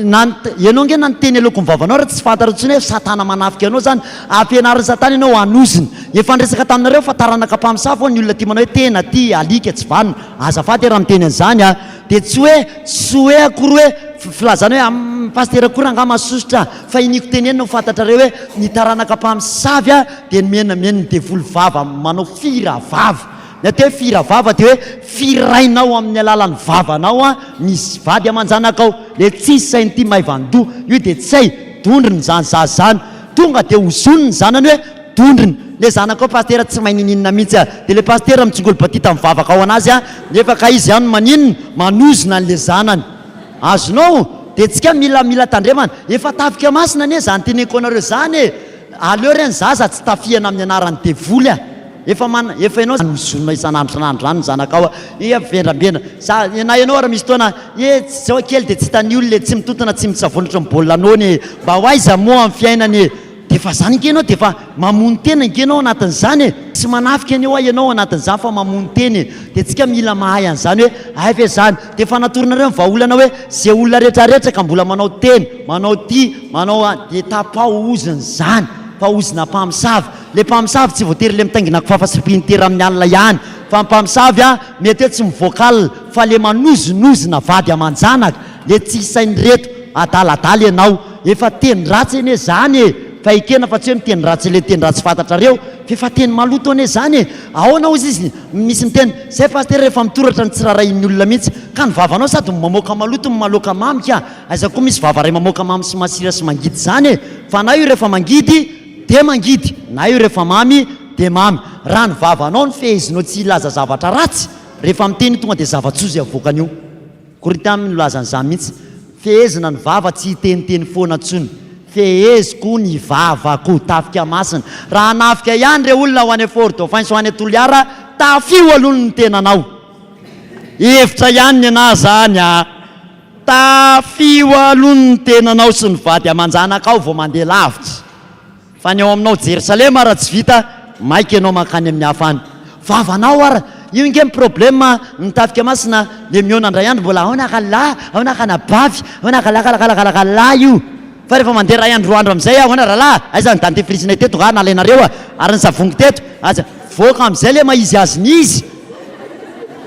Ianao ange na ny teny aloaky ny vavanao ary tsy fantatrao intsony hoe satana manafika anao zany, ampianarin'ny satana ianao hanozona, efa niresaka taminareo fa taranaka mpamosavy ho'a ny olona tia manao hoe tena, tia, alika, tsy vanona, azafady e raha miteny an'izany a, dia tsy hoe, tsy hoe akory hoe filazana hoe am, pasitera akory angaha mahasosotra, fa iniako tenenina ho fantatrareo hoe ny taranaka mpamosavy dia nomenamen'ny devoly vava manao fira vava, Ny atao hoe fihira vava dia hoe fihira rainao amin'ny alalan'ny vavanao an, misy vady aman-janakao, le tsisy sahy nity maivan-doha, io dia tsy hay, dondrona izany zaza izany, tonga dia ozony ny zanany hoe dondrona, le zanakao pasitera tsy mahay ninininona mihitsy an, dia le pasitera mitsingolo batita mivavaka ao anazy an, nefa kay izy an maninona, manozona an'le zanany. Azonao? Dia tsika mila mila tandremana, efa tafika masina anie izany teneniko anareo izany e! Aleo re ny zaza tsy tafihana amin'ny anaran'ny devoly a! Efa man, efa ianao zany mizonona isan'andro isan'andro zany ny zanakao a! Efa vendrambendra, za, na ianao ary misy fotoana, e, zao kely dia tsy hitan'ny olona e, tsy mitontona tsy mitsavoana ohatran'ny baolina nono e! Mba ho aiza moa amin'ny fiainana e! Dia efa zany ange ianao dia efa mamono tena ange ianao anatin'izany e! Tsy manafika anie hoa ianao anatin'izany fa mamono tena e! Dia tsika mila mahay an'izany hoe hay ve zany? Dia efa natoronareo ny vahaolana hoe ze olona retraretra ka mbola manao tena, manao ty, manao any dia tapaozina izany, paozina mpamosavy. Le mpamosavy tsy voatery le mitaingina kifafa sy printer amin'ny alina ihany fa ny mpamosavy an mety hoe tsy mivoaka alina fa le manozonozona vady aman-janaka le tsy hisain'ireto adaladala ianao. Efa teny ratsy anie zany e! Fa ekena fa tsy hoe miteny ratsy le teny ratsy fantatrareo f'efa teny maloto anie zany e! Aona ozy izy misy miteny zay pasitera refa mitoratra ny tsy rarahin'ny olona mihitsy ka ny vavanao sady mamoaka maloto no maloka mamy ka aiza koa misy vava ray mamoaka mamy sy masira sy mangidy zany e! Fa na io refa mangidy de mangidy na io refa mamy de mamy raha ny vavanao no fehezinao tsy hilaza zavatra ratsy refa miteny io tonga de zava-tsoa zay avoakan'io. Korintiana no nilaza an'izany mihitsy, Fehezina ny vava, tsy hiteniteny foana intsony. Feheziko ny vavako. Tafika masina. Raha hanafika ihany ireo olona ho any Fort-Dauphin sy ho any Toliara, tafio aloha ny tenanao. Hevitra ihany ny anà izany a! Tafio aloha ny tenanao sy ny vady aman-janakao vao mandeha lavitra. Fa ny ao aminao Jerosalema ara tsy vita maika enao mankany amin'ny hafa any vavanao ara io nge ny problème a ny tafika masina dia mihaona ndray andro mbola aona ka lahy aona ka anabavy aona ka lakalakalakalakalaa io fa rehefa mandeha ray andro roa andro amizay aona ralahy aiza ny dentifrice-nay teto nga nalainareo a ary ny savon-ko teto aza voaka amizay le mahizy azy ny izy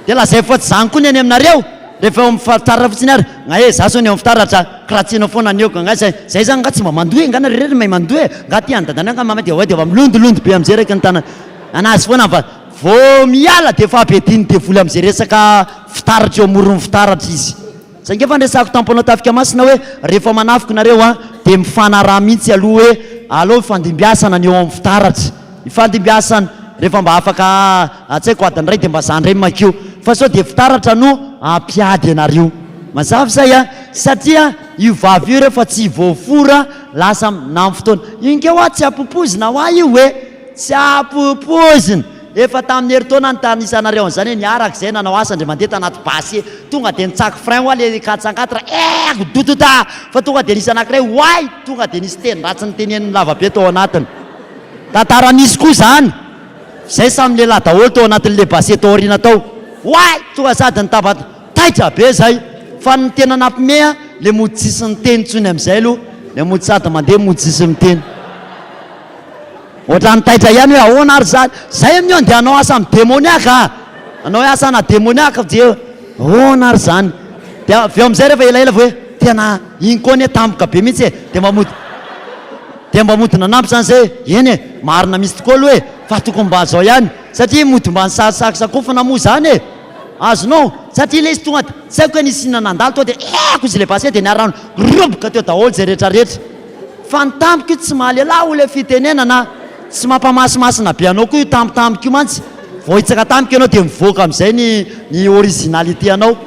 dia lazaivo fa tsy zany koa ny any aminareo Rehefa eo amin'ny fitaratra fotsiny ary ngah e, za zao ny eo amin'ny fitaratra kiratsiana foana ny eo ka ngah zay, zay zany ngah tsy mba mandoa e, ngah nareo irery mahay mandoa e, ngah ty any dadanay angah mamanay dia oay dia efa milondolondy be amin'izay raiky ny tanany anazy foana fa vao miala dia efa be diny devoly amin'izay resaka fitaratra eo amoron'ny fitaratra izy. Zay ngah efa niresahako tampoanao tafika masina hoe rehefa manafika nareo an dia mifanaraha mihitsy aloha hoe alao hifandimbiasana ny eo amin'ny fitaratra, hifandimbiasana rehefa mba afaka Raha tsy haiko adiny iray dia mba za indray makio fa sao dia fitaratra no hampiady anareo. Mazava izay an! Satria io vava io rehefa tsy voafora lasa minany fotoana. Io nge hoa tsy ampopoizina hoa io e! Tsy ampopoizina! Efa tamin'ny herintaona nitanisanareo an'izany e! Niaraka izay nanao asa ndry mandeha tanaty basy e! Tonga dia nitsaky frein hoa le quatre cent quatre eeh! Dodota! Fa tonga dia nisy anankiray oay! Tonga dia nisy teny ratsy niteneniny lavabe tao anatiny. Tantara misy koa izany. Zay samy lehilahy daholo tao anatin'le base tao aoriana tao. Oay! Tonga sady nitabat taitra be zay. Fa ny tena nampime an, le mody tsisy niteny tsony amizay aloha. Le mody sady mandeha mody tsisy miteny. Ohatrany taitra ihany hoe ahoana ary zany. Zay amin'io andeha hanao asa am demoniaque a! Hanao hoe asa ana demoniaque dia ahoana ary zany. Dia avy eo amizay refa elaela vao hoe tena iny koa anie tampoka be mintsy e. Dia mba mody. Dia mba mody nanampy izany izay hoe, eny e, marina mihitsy tokoa aloha e, fa tokony mba izao ihany, satria mody mba nisarosarosy sakofana moa izany e. Azonao? Satria ilay izy tonga dia, tsy haiko hoe nisy inona nandalo tao dia eehh-ko izay ilay basket dia niha-rano roboka teo daholo izay rehetrarehetra. Fa ny tamiko io tsy mahalelah hoy ilay fitenenana a! Tsy mampamasimasina be anao koa io tampotampoka io mantsy, vao hitsaka tampoka ianao dia mivoaka amin'izay ny ny originalité-nao.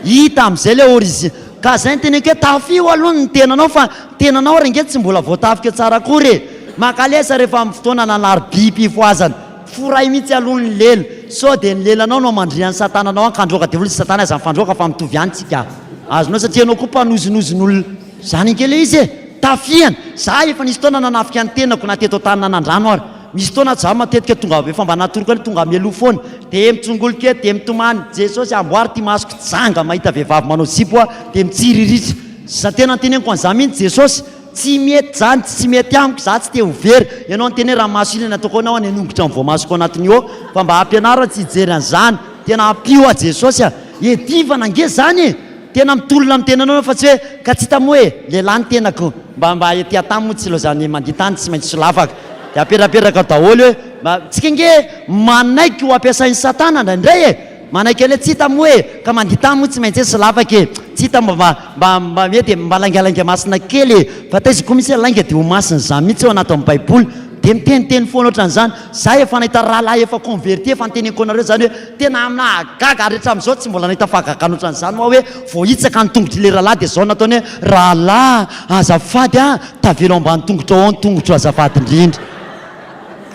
Hita amin'izay ilay origin. Ka zay ny teneniko hoe tafio aloha ny tenanao fa ny tenanao ary ange tsy mbola voatafika tsara akory e! Makalesa rehefa amin'ny fotoana nanari-bim-pifohazana. Foray mihitsy aloha ny lela sao dia ny lelanao no hamandria an'i satana anao hankandroaka devoly sy satana aza mifandroaka fa mitovy ihany tsika. Azonao satria ianao koa mpanozinozin'olona. Zany ange ilay izy e! Tafihana! Za efa nisy fotoana nanafika ny tenako na teto an-tany na nandrano ary. Misy fotoana zah matetika tonga avy eo fa mba natoroko aloha tonga mialoha foana de mitsongolika eo de mitomany Jesosy amboary ty masoko janga mahita vehivavy manao zipo aho de mitsiriritra Za tena anteneniko an'izany mihitsy Jesosy tsy mety zany tsy mety amiko za tsy te ho very ianao niteny hoe ramaso iny ny ataoko anao any anongotro ny voamasoko ao anatiny io fa mba ampianaro aho tsy hijery an'izany tena ampio aho Jesosy a Edivana ange zany e! Tena mitolona ny tenanao fa tsy hoe ka tsy hita moa e, lehilahy ny tenako. Mba mba ety an-tany moa tsy laozan'ny mandia tany tsy maintsy solavaka dia apetrapetraka daholo hoe mba tsika ange manaiky ho ampiasain'i satana indraindray e, manaiky an'le tsy hita moa e, ka mandia tany moa tsy maintsy hoe solavaka e, tsy hita mba mba mba mba hoe dia mba laingalainga masina kely e, fa taiza koa misy hoe lainga dia ho masina, izany mihitsy ao anatin'ny baiboly dia miteniteny foana ohatran'izany, za efa nahita rahalahy efa converti efa noteneniko anareo izany hoe. Tena nahagaga ary hatramin'izao tsy mbola nahita fahagagana ohatran'izany hoa hoe voahitsaka ny tongotr'ilay rahalahy dia izao nataony hoe, Rahalahy azafady an, tavela ao ambany tongotrao ao ny tongotro azafady indrindra.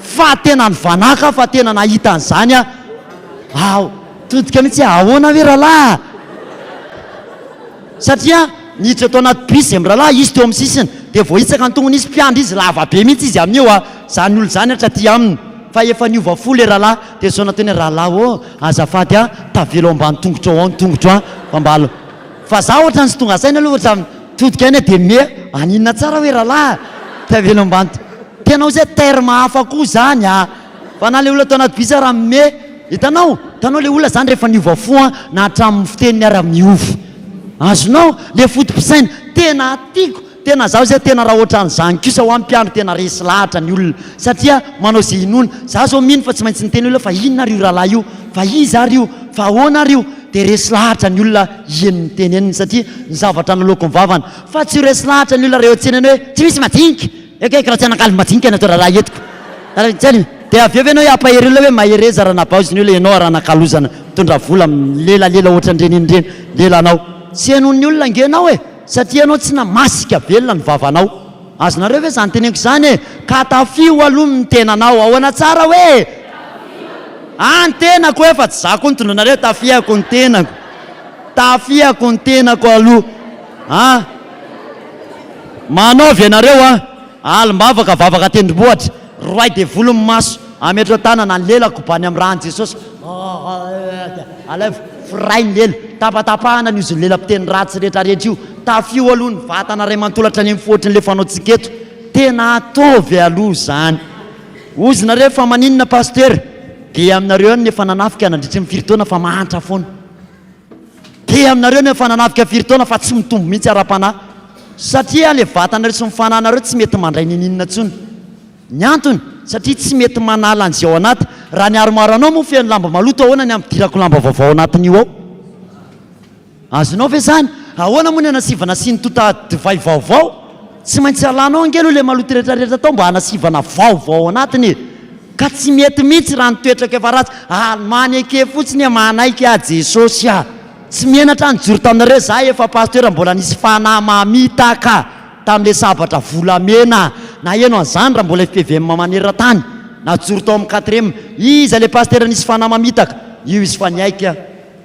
Fa tena nivanaka aho fa tena nahita an'izany aho. Todika mihitsy hoe ahoana ve rahalahy a? Satria niditra tao anaty bus izahay mirahalahy, izy teo amin'ny sisiny dia voahitsaka ny tongony izy, mpiandry izy lava be mihitsy izy amin'io a! Izany olona izany hatry aty aminy fa efa niova fo ilay rahalahy. Tezaona teny rahalahy ô! Azafady a! Tavela ao ambany tongotrao ao ny tongotro a! Fa mba aleo. Fa za ohatrany tsy tonga saina aloha ohatrany mitodika any a! Dia miha any inona tsara hoe rahalahy a! Tavela ao ambany tongotrao. Tena oziah terme hafa koa zany a! Fa na le olona tao anaty bus ara miha. Hitanao? Hitanao le olona zany rehefa niova fo a! Na hatramin'ny fiteniny ara miova. Azonao? Le foto-pisaina. Tena tiako. Tena zaho zay tena raha otran'izany kosa hoa mpiandry tena resy lahatra ny olona satria manao ze inoana, za zao mino fa tsy maintsy niteny olona fa inona ary io rahalahy io? fa iza ary io? fa ahoana ary io? dia resy lahatra ny olona hieny ny teneniny satria ny zavatra naloako ny vavany, fa tsy ho resy lahatra ny olona raha eo an-tsenany hoe tsy misy majinika! ekeko raha tsy hanakalo majinika ianao rahalahy etiko Rahatsiany dia avy eo ve ianao hampahery olona hoe mahereza raha nabaozy ny olona ianao ary hanakalozana mitondra vola milelalela ohatran'ireny iny ireny lelanao tsy henoin'ny olona ange ianao e! Satria ianao tsy namasika velona ny vavanao. Azonareo ve izany teneniko izany e? Ka tafiho aloha ny tenanao. Ahoana tsara hoe? Ah ny tenako e, fa tsy za koa nitondra anareo, tafihako ny tenako. Tafihako ny tenako aloha. Ah. Manaovy ianareo an. Alim-bavaka, vavaka tendrombohitra, roahy devoly ny maso, ametro an-tanana ny lela koban'ny amin'ny ran'i Jesosy, alaivo, firahy ny lela, tapatapahana ny ozin'ny lela mpiteny ratsy retraretra io, tafio aloha ny vatana ray manontolo hatrany amin'ny fo ohatrin'ilay fanaontsika eto, tena ataovy aloha izany. Hozy nareo fa maninona Pasitera? Dia aminareo ihany ny efa nanafika nandritry ny firy taona fa mahantra foana. Dia aminareo ny efa nanafika firy taona fa tsy mitombo mihitsy ara-panahy. Satria ilay vatanareo sy ny fanahinareo tsy mety mandray n'inon'inona intsony. Ny antony, satria tsy mety manala an'izay ao anaty. Raha ny armoire-nao moa feno lamba maloto ahoana ny hampidirako lamba vaovao ao anatin'io ao? Azonao ve izany? Ahoana moa ny anasivanasian'ny tota divay vaovao? Tsy maintsy alanao ange aloha ilay maloto rehetrarehetra tao mba hanasivana vaovao ao anatiny e! Ka tsy mety mihitsy raha ny toetrako efa ratsy, ary maneke fotsiny e! Manaiky aho Jesosy a! Tsy menatra nijoro taminareo za efa pasteur mbola nisy fanahy mamitaka tamin'ilay sabatra volamena a! Naheno an'izany raha mbola FPVM maneran-tany, najoro tao amin'ny quatrième, iza ilay pasteur nisy fanahy mamitaka? Io izy fa niaiky a!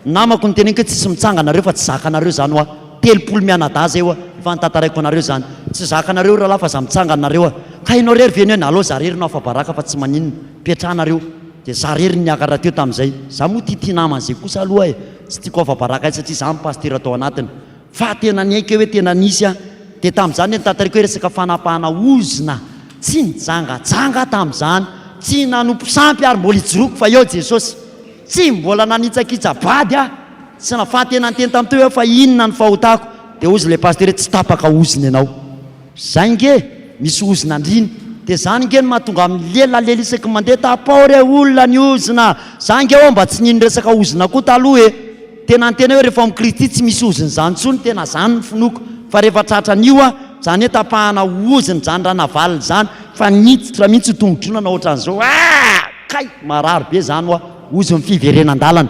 Namako niteneniko hoe tsisy mitsanga anareo fa tsy zakanareo zany hoa telopolo mianadahy zay hoa efa nitantaraiko anareo zany tsy zakanareo rahalahy fa za mitsanga anareo hoa ka enao rery ve ny hoe nalao za rery no afabaraka fa tsy maninona petrahanareo de za rery niakatra teo tamizay za moa tia tia namana zay kosa aloha e tsy tiako afabaraka ahy satria za no pasitera tao anatiny fa tena niaiky aho hoe tena nisy a de tamizany le nitantaraiko hoe resaka fanapahana ozona tsy nijangajanga aho tamizany tsy nanompo sampy ary mbola ijoroako fa eo Jesosy. Tsy mbola nanitsakitsa bady aho, tsy nafaha tena niteny tamin'i Teo hoe fa inona ny fahotako, dia hozy ilay pasitera hoe tsy tapaka ozona ianao. Izay ange, misy ozona andriana, dia izany ange no mahatonga ahy milela lela isaky ny mandeha, tapao re olona ny ozona, za ange ho'aho mba tsy nino resaka ozona koa taloha e! tena niteny aho hoe rehefa ao amin'ny Kristy tsy misy ozona izany intsony, tena izany ny finoako, fa rehefa tratra an'io aho, izany hoe tapahana ozona izany ranavalona izany, fa niditra mihintsy io tongo-dronana ohatran'izao, aa! Kay! Marary be zany hoa ozon'ny fiverenan-dalana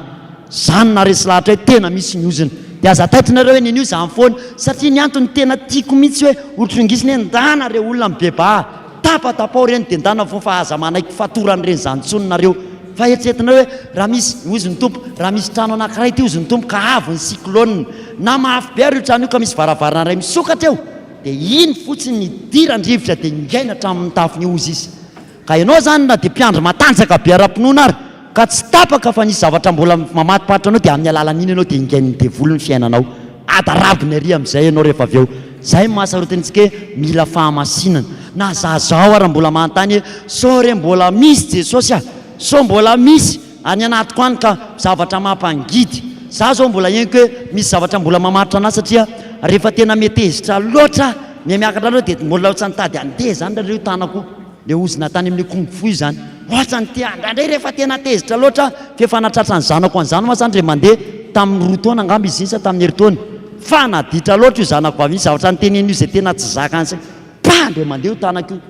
zany na resy lahatra hoe tena misy ny ozona dia aza taitinareo eny anio zany foana satria ny antony tena tiako mitsy hoe hotrongisina hoe ndana re olona mibebaha tapatapao reny dia ndana foana fa aza manaiky fatorany reny zany tsony nareo fa heritreretinareo hoe raha misy ozy ny tompo raha misy trano anakiray ity ozy ny tompo ka avy ny cyclone na mafy be ary io trano io ka misy varavarana iray misokatra eo dia iny fotsiny ny hidiran-drivotra dia ingaina hatramin'ny tafon'io ozy izy Ka ianao izany na dia mpiandry matanjaka be ara-pinoana ary ka tsy tapaka fa nisy zavatra mbola mamatoparitra anao dia amin'ny alalan'iny ianao dia ingain'ny devoly ny fiainanao. Ady arabiny ary amin'izay ianao rehefa avy eo. Izay no mahasarotiny antsika hoe mila fahamasinana. Na za zao ary mbola manontany hoe sao re mbola misy Jesosy a? Sao mbola misy? Any anatiko any ka zavatra mampangidy. Za zao mbola henoko hoe misy zavatra mbola mamaritra anah satria rehefa tena mety hezitra loatra mihamiakatra loatra dia mbola ohatsa nitady handeha zany raha reo tanako le ozona tany amin'ny kung fu izany ohatsa ny te handray ndray rehefa tena tezitra loatra aho f'efa natratra ny zanako an'izany moa zany re mandeha tamin'ny roa taona angamba izy iny sa tamin'ny herintaona fa naditra loatra io zanako vavy iny zavatra niteneniny io izay tena tsy zakany saika pa ndray mandeha io tanako io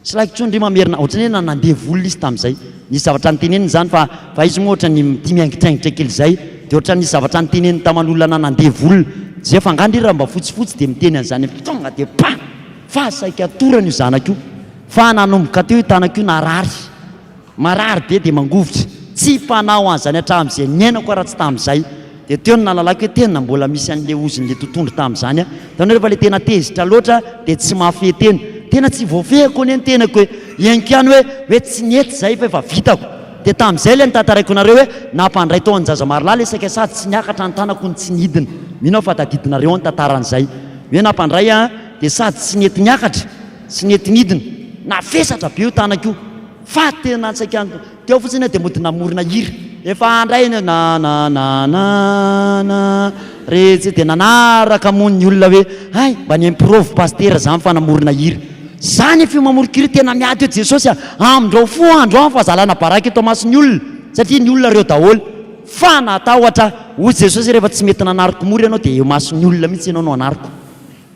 Tsy laiko intsony ry Mamerina, ohatran'ny hoe nandevo olona izy tamin'izay. Nisy zavatra noteneniny izany fa fa izy moa ohatran'ny mitia miaingitraingitra kely izay dia ohatran'ny nisy zavatra noteneniny taman'olona na nandevo olona. Jeff angaha ndry raha mba fotsifotsy dia miteny an'izany hoe tonga dia pah! Fa saika torana io zanako io fa nanomboka teo io tanako io narary. Marary be dia mangovitra. Tsy fanao an'izany hatramin'izay niainako aho raha tsy tamin'izay. Dia teo no nahalalako hoe tena mbola misy an'ilay ozin'ilay totohondry tamin'izany aho. Hitanao rehefa ilay tena tezitra loatra dia tsy mahafehy tena. Tena tsy voafehiko anie ny tenako hoe henoko ihany hoe hoe tsy nety izay fa efa vitako. Dia tamin'izay ilay notantaraiko anareo hoe nampandray tao Anjazamarolahy ilay saika sady tsy niakatra ny tanako no tsy nidina. Mino aho fa tadidinareo ny tantaran'izay. Hoe nampandray an, dia sady tsy nety niakatra. Tsy nety nidina. Navesatra be io tanako io fa tena an-tsaiko any. Teo fotsiny aho dia mody namorona hira. Efa handray ny hoe na na na na na re tsy dia nanaraka moa ny olona hoe hay mba ny improve pasitera izany fa namorona hira. Izaho nefa io mamoron-ko hira tena miady hoe Jesosy a, amin-drao fo andro aho fa zalana baraka eto amason'ny olona satria ny olona reo daholo. Fa natahotra aho. Hoy Jesosy rehefa tsy mety nanariko mora ianao dia eo mason'ny olona mihitsy ianao no anariko.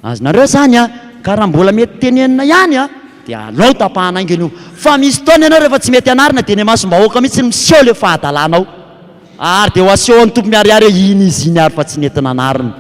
Azonareo zany a, ka raha mbola mety tenenina ihany a, dia alao tapahana haingana io, fa misy fotoana ianao rehefa tsy mety anarina dia eny imasom-bahoaka mihitsy no miseho le fahadalanao, ary dia ho asehon'ny Tompo miharihary hoe iny izy iny ary fa tsy nety nanarina.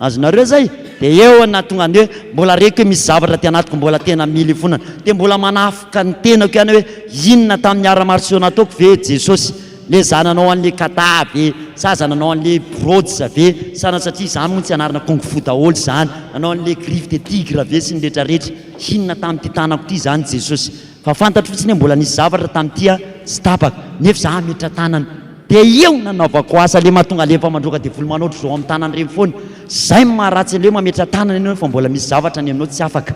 Azonareo zay? Dia eo no nahatonga an'i hoe mbola reko hoe misy zavatra aty anatiko mbola tena mila ifonana, dia mbola manafoka ny tenako ihany aho hoe inona tamin'ny ara-marosoa nataoko ve Jesosy? Le zananao anle kata ve? Sa zananao anle brods ve? Sa satria zany moa tsy anarana kung fu daholo zany? Anao anle griffe de tigre ve sy ny retraretra? Hinona tamity tanako ty zany Jesosy? Fa fantatro fotsiny hoe mbola nisy zavatra tamity a tsy tapaka nefa za hametra tanana de eo nanaovako asa le mahatonga alefa mandroaka devoly manao ohatry zao am tanana reny foana zay no maharatsy aleo mametra tanana enao fa mbola misy zavatra ny aminao tsy afaka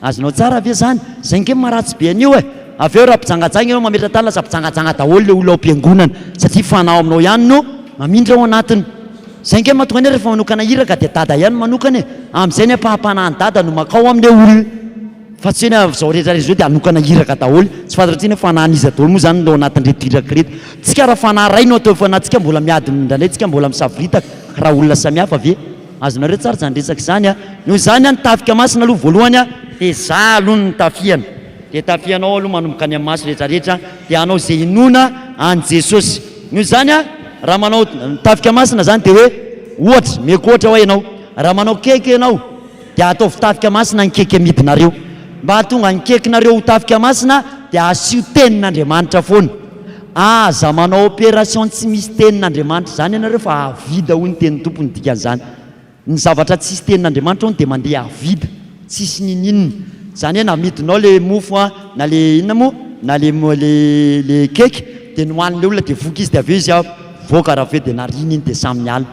Azonao tsara ve zany? Zay nge maharatsy be an'io e! Avy eo raha mpijangajanga ianao mametra-tany lasa mpijangajanga daholo le olona ao am-piangonana satria fanao aminao ihany no mamindra ao anatiny. Zay nge mahatonga anay rehefa manokana iraka dia dada ihany manokana e! Amin'izay ny ampaham-panahin'i dada no makao amle olona fa tsy hoe ny amin'izao rehetra rehetra izao dia hanokana iraka daholo. Tsy fantatrao intsony hoe fanahin'iza daholo moa zany no ao anatin'ireto iraka ireto. Tsika raha fanahy iray no atao eo fanahintsika mbola miady mindraindray tsika mbola misavoritaka raha olona samihafa ve? Azonareo tsara izany resaka izany a! Noho izany a ny tafika masina aloha voalohany a dia za aloha no tafiana dia tafianao aloha manomboka any amin'ny maso rehetra rehetra dia hanao ze hinoana an'i Jesosy noho izany a raha manao tafika masina zany dia hoe ohatra meko ohatra hoa ianao raha manao cake ianao dia ataovy tafika masina ny cake amidinareo mba hahatonga ny cake nareo ho tafika masina dia asio tenin'Andriamanitra foana Aza manao opération tsy misy tenin'Andriamanitra izany ianareo fa avida hoy ny tenin'ny Tompo ny dikan'izany. Ny zavatra tsisy tenin'Andriamanitra hono dia mandeha avida, tsisy ninininona. Izany hoe na amidinao ilay mofo an, na ilay inona moa, na ilay ilay cake dia nohanin'ilay olona dia voky izy dia avy eo izy an mivoaka raha avy eo dia narina iny dia samy niala.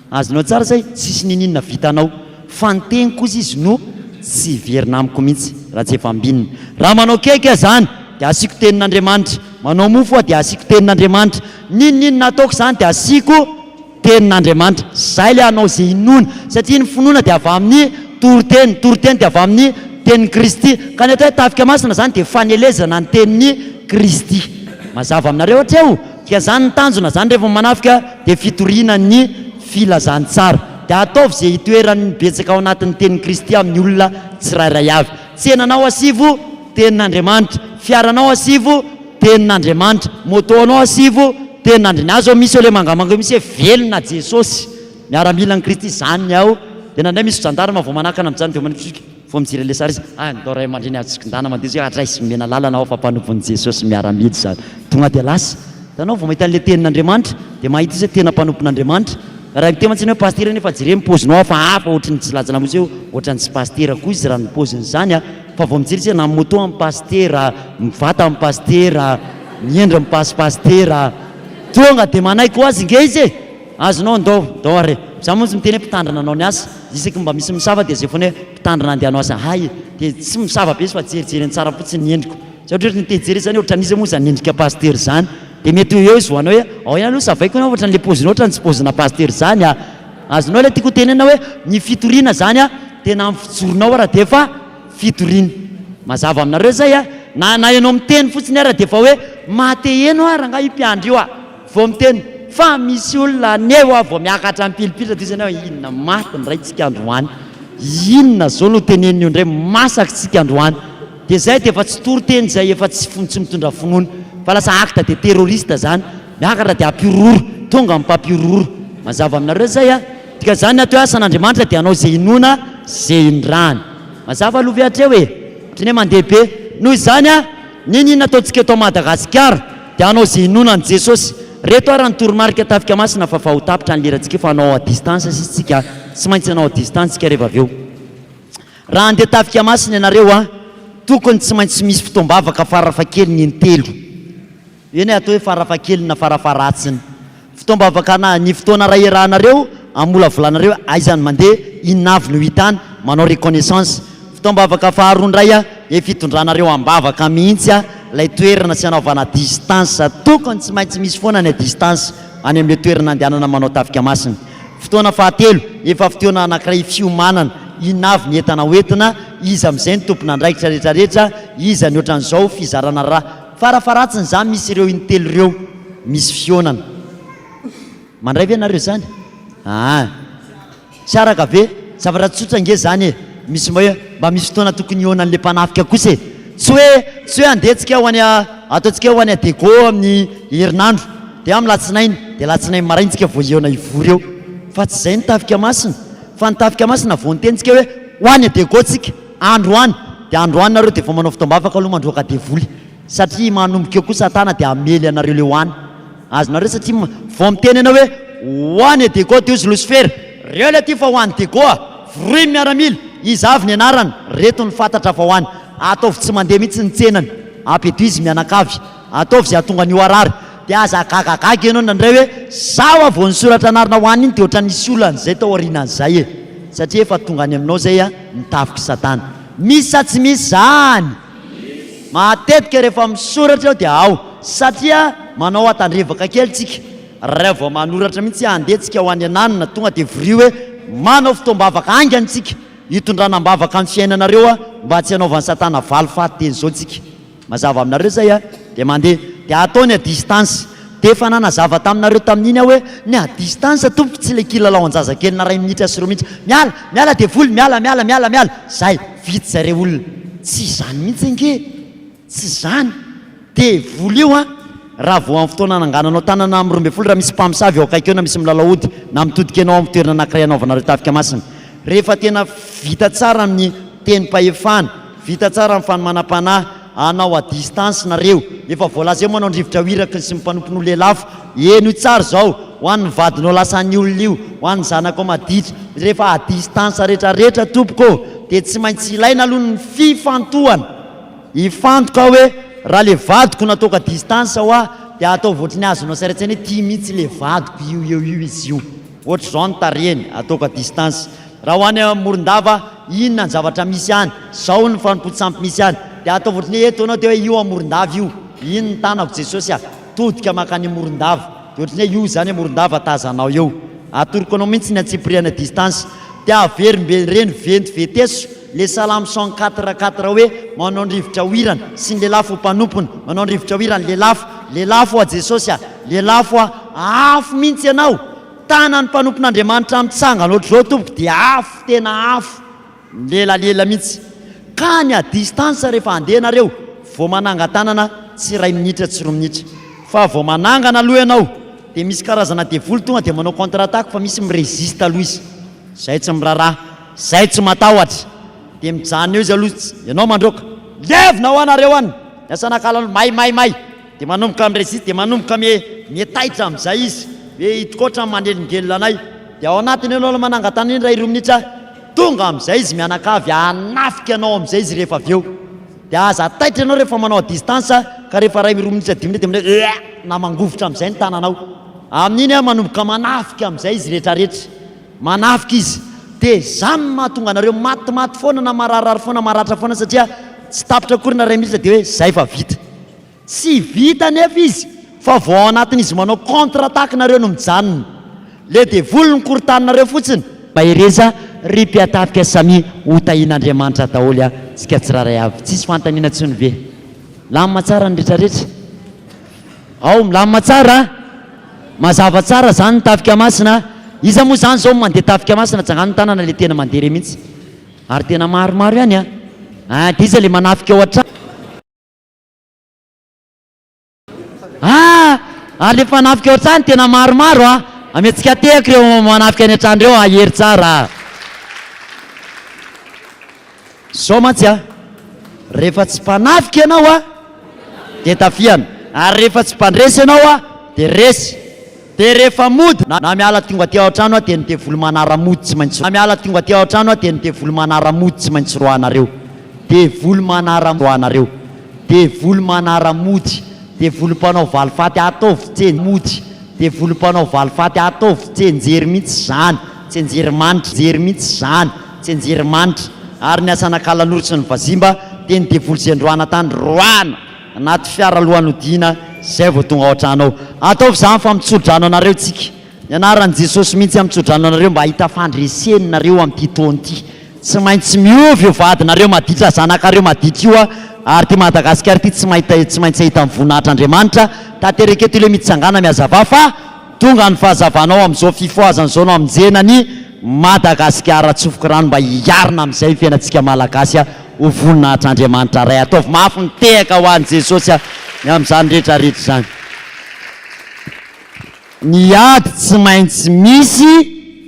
Azonao tsara zay, tsisy niniana vitanao. Fa ny teniko ozy izy no tsy hiverina amiko mihitsy raha tsy efa ambinina. Raha manao cake aho zany dia asiako tenin'Andriamanitra, manao mofo aho dia asiako tenin'Andriamanitra, n'inon'inona ataoko zany dia asiako tenin'Andriamanitra. Zay le hanao ze inoana. Satria ny finoana dia avy amin'ny toriteny, ny toriteny dia avy amin'ny tenin'i Kristy. Ka ny atao hoe tafika masina zany dia fanelezana ny tenin'i Kristy. Mazava aminareo hatreo? Dia zany ny tanjona, zany rehefa manafika dia fitoriana ny filazantsara. Dia ataovy izay hitoeran'ny betsaka ao anatin'ny tenin'i Kristy amin'ny olona tsirairay avy. Tsenanao asivo, tenin'Andriamanitra. Fiaranao asivo, tenin'Andriamanitra. Moto anao asivo, tenin'Andrian. Aza misy eo le mangamanga eo misy hoe velona Jesosy, miaramilan'i Kristy, zany ny ao. Dia na ndray misy jandarma vao manakana amin'izany dia manitsika. Vao mijery an'ilay sary izy, ah, ny tao ray aman-dreny azo tsokindana mandeha zao hoe adraiso omena lalana aho fa mpanompon'i Jesosy miaramila izany. Tonga dia lasa. Hitanao, vao mahita an'ilay Tenin'Andriamanitra, dia mahita izy hoe tena mpanompon'Andriamanitra. Raha miteny mantsiny hoe pasitera anie fa jereo ny paozinao hafa, hafa ohatry ny tsy laza lamosy hoe ohatran'ny tsy pasitera koa izy raha ny paoziny izany an! Fa vao mijery izy hoe na moto amin'ny pasitera, mivata amin'ny pasitera, miendry ny pasom-pasitera, tonga dia manaiky ho azy nge izy e! Azonao andao dao ary e! Za montsy miteny hoe mpitandrina anao ny asa, isaky ny mba misy misava dia zay foana hoe mpitandrina andeha hanao asa hay e! dia tsy misava be izy fa jerijery ny tsara fotsiny ny endriko, za ohatrohatry ny te hijery izy zany hoe ohatran'iza moa zany endrika pasitera zany, dia mety ho eo izy ho anao hoe ao ihany aloha savaiko ianao ohatran'ny le pozinao ohatran'ny tsy pozina pasitera zany a! azonao le tiako hotenenina hoe ny fitoriana zany a! tena amin'ny fijoronao ara dia efa fitoriana, mazava aminareo zay a! na na ianao miteny fotsiny ara dia efa hoe maha te heno a! rangahy io mpiandry io a! Vao miteny fa misy olona anie hoa vao miakatra mipilipilitra toy izany aho inona maty ny raintsika androany, inona zao no teneniny eo indray masak tsika androany dia zay dia efa tsy toriteny zay efa tsy tsy mitondra finoana fa lasa acte de terroriste zany miakatra dia ampihorohoro tonga mpampihorohoro mazava aminareo zay a dika zany ny atao hoe asan Andriamanitra dia anao ze inoana ze indrany mazava aloha ve hatreo e otrany hoe mandeha be noho izany a N'inon'inona ataontsika eto Madagasikara dia hanao izay inoana an'i Jesosy. Reto ary ny toromarika tafika masina fa vaho tapitra ny lera tsika efa hanao à distance sisa tsika tsy maintsy hanao à distance tsika reva avy eo. Raha handeha tafika masina ianareo a tokony tsy maintsy misy fotoam-bavaka farafahakeliny intelo. Eny e atao hoe farafahakeliny na farafaharatsiny. Fotoam-bavaka na ny fotoana iray iarahanareo amolavolanareo aiza no mandeha, inona avy no hitany, manao reconnaissance. Fotoam-bavaka faharoa indray dia fitondranareo am-bavaka mihitsy ilay toerana sy anaovana distance, tokony tsy maintsy misy foana ny distance any amin'ilay toerana andehanana manao tafika masina. Fotoana fahatelo, efa fotoana anankiray fiomanana, inona avy ny entana hoentina, iza amin'izay no tompon'andraikitra rehetrarehetra, iza ny ohatran'izao, fizarana ra. Farafaharatsiny zany misy ireo intelo ireo misy fihaonana. Mandray ve nareo zany? Aa! Tsy araka ve? Zavatra tsotra ange zany e! Misy mba hoe mba misy fotoana tokony hihaonan'le mpanafika kosa e! Tsy hoe tsy hoe andeha tsika ho any ataontsika hoe ho any Adego amin'ny herinandro de amin'ny latsinainy de latsinainy maraina tsika vao hihaona hivory eo fa tsy zay ny tafika masina fa ny tafika masina vao niteny tsika hoe ho any Adego tsika Andro any dia andro any nareo dia vao manao fotoam-bavaka aloha mandroaka devoly satria manomboka eo koa satana dia hamely anareo leo any azonareo satria vao miteny ianao hoe ho any e dego dia hozy losifera reo le ty fa ho any dego a voroy ny miaramila iza avy ny anarana reto ny fatatra fa ho any ataovy tsy mandeha mihitsy ny tsenany apetuise mianakavy Ataovy izay hahatonga an'io harary. Dia aza hagagagaga ianao indraindray hoe, Izaho hoa vao nisoratra anarana ho an'iny dia ohatran'ny nisy olana izay tao aorianan'izay e! Satria efa tonga any aminao izay ny tafik'i Satana. Misy sa tsy misy izany? Matetika rehefa misoratra aho dia ao. Satria manao hatandrevaka kely tsika. Raha vao manoratra mihitsy handeha tsika ho any ananona, tonga dia vorio hoe, Manao fotoam-bavaka haingana tsika, hitondrana am-bavaka ny fiainanareo mba tsy hanaovan'i Satana valifaty teny izao tsika. Mazava aminareo zay a! Dia mandeha. Dia ataony à distance. Dia efa nanazava taminareo tamin'iny aho hoe ny à distance tompoko tsy ilay kilalao an-jazakelina iray minitra sy roa mihitsy. Miala! Miala devoly! Miala! Miala! Miala! Miala! Zay! Vitsy zay re olona. Tsy izany mihitsy ange e! Tsy izany! Devoly io an! Raha vao amin'ny fotoana anangananao tanana amin'ny roa ambin'ny folo raha misy mpamosavy eo akaiky eo na misy milalao ody na mitodika ianao amin'ny toerana anankiray anaovanareo tafika masina. Rehefa tena vita tsara amin'ny tenim-pahefana. Vita tsara ny fanomanam-panahy anao à distance nareo. Efa voalazaio manao ny rivotra ho iraky ny sy ny mpanompony ho lelafo. Heno tsara izao, ho an'ny vadinao lasa an'ny olona io, ho an'ny zanakao maditra. Rehefa à distance rehetra rehetra tompoko ô, dia tsy maintsy ilaina aloha ny fifantohana. Hifantoka aho hoe raha le vadiko nataoko à distance hoa dia ataovy ohatry ny azonao saira-tsaina hoe tia mihitsy le vadiko io eo io izy io. Ohatr'izao ny tarehiny, ataoko à distance, Raha ho any Morondava, inona ny zavatra misy any? Zao ny fanompoan-tsampy misy any. Dia ataovy ohatry ny hoe eto ianao dia hoe io à Morondava io. Iny ny tanako Jesosy à, todika mankany Morondava. Dia ohatry ny hoe io izany à Morondava tazanao eo. Atoroko anao mihitsy ny antsipiriany à distance. Dia averimbe ireny venty veteso. Le salamo cent quatre quatre hoe manao ny rivotra hoirany sy ny lelafo ho mpanompony manao ny rivotra hoirany lelafo lelafo ho'a Jesosy a lelafo a afo mintsy ianao tanan'ny mpanompon'Andriamanitra mitsangana ohatr'izao tompoko dia afo tena afo milelalela mintsy ka ny à distance rehefa handeha nareo vao manangan-tanana tsy iray minitra tsy roa minitra fa vao manangana aloha ianao dia misy karazana devoly tonga dia manao contre attaque fa misy mi-resiste aloha izy zay tsy miraharaha Zay tsy matahotra de mijanona eo izy aloha tsy ianao mandroaka levona ao nareo any ny asanakalanao may may may de manomboka mi-resiste de manomboka mie taitra amizay izy hoe hitako otrany manelingelina anay de ao anatiny eo aloha manangatana indray roa minitra ahy tonga amizay izy mianakavy hanafika anao amizay izy rehefa avy eo de aza taitra ianao rehefa manao à distance ka rehefa ray roa minitra dimy minitra de manao hoe na mangovitra amizay ny tananao amin'iny manomboka manafika amizay izy retraretra Manafika izy. Dia izany no mahatonga anareo matimaty foana na mararirary foana, maratra foana satria tsy tapitra akory na iray minitra dia hoe izay fa vita. Tsy vita anefa izy fa vao ao anatin'izy manao contre attaque nareo no mijanona. Le devoly no korontaninareo fotsiny. Mahereza ry mpiatafika samia ho tahin'Andriamanitra daholo a tsika tsiraray avy tsisy fanontaniana tsony ve? Lamina tsara ny retraretra? Ao, milamina tsara a! Mazava tsara zany ny tafika masina a! Iza moa zany zao no mandeha tafika masina? Tsangano ny tanana le tena mandeha re mintsy! Ary tena maromaro ihany a! Ahh de iza le manafika ao hatrany? Ahh! Ary le mpanafika ao hatrany tena maromaro a! Amiantsika tehaka ireo manafika any hatrany ireo a! Hery tsara a! Zao mantsy a! Rehefa tsy mpanafika ianao a! Dia tafiana! Ary rehefa tsy mpandresy ianao a! Dia resy! Dia rehefa mody na miala tonga aty ao an-trano aho dia ny devoly manara-mody tsy maintsy na miala tonga aty ao an-trano aho dia ny devoly manara-mody tsy maintsy roahanareo! Devoly manara-mody roahanareo! Devoly manara-mody! Devoly mpanao valifaty ataovy tse mody! Devoly mpanao valifaty ataovy tse njery mihitsy izany! Tse njery manitra njery mihitsy izany! Tsenjerimanitra, ary ny Asanakalanoro sy ny Vazimba dia ny devoly izay androana tany roahina anaty fiara alohan'ny hodiana izay vao tonga ao an-trano ao. Ataovy izany fa mitso-drano anareo isika. Ny anaran'i Jesosy mihitsy hamitso-drano anareo mba hahita fandreseny nareo amin'ity taona ity. Tsy maintsy miova io vadinareo maditra, zanakareo maditra io ary ity Madagasikara ity tsy maintsy hahita ny voninahitr'Andriamanitra. Tanteraka eto ilay mitsangàna mihazavà fa. Tonga ny fahazavana ao amin'izao fifohazana izao no hamonjena an'i Madagasikara tsofoky rano mba hiarina amin'izay ny fiainantsika Malagasy ho voninahitr'Andriamanitra Ray. Ataovy mafy ny tehaka ho an'i Jesosy ny amin'izany rehetra rehetra izany. Ny ady tsy maintsy misy,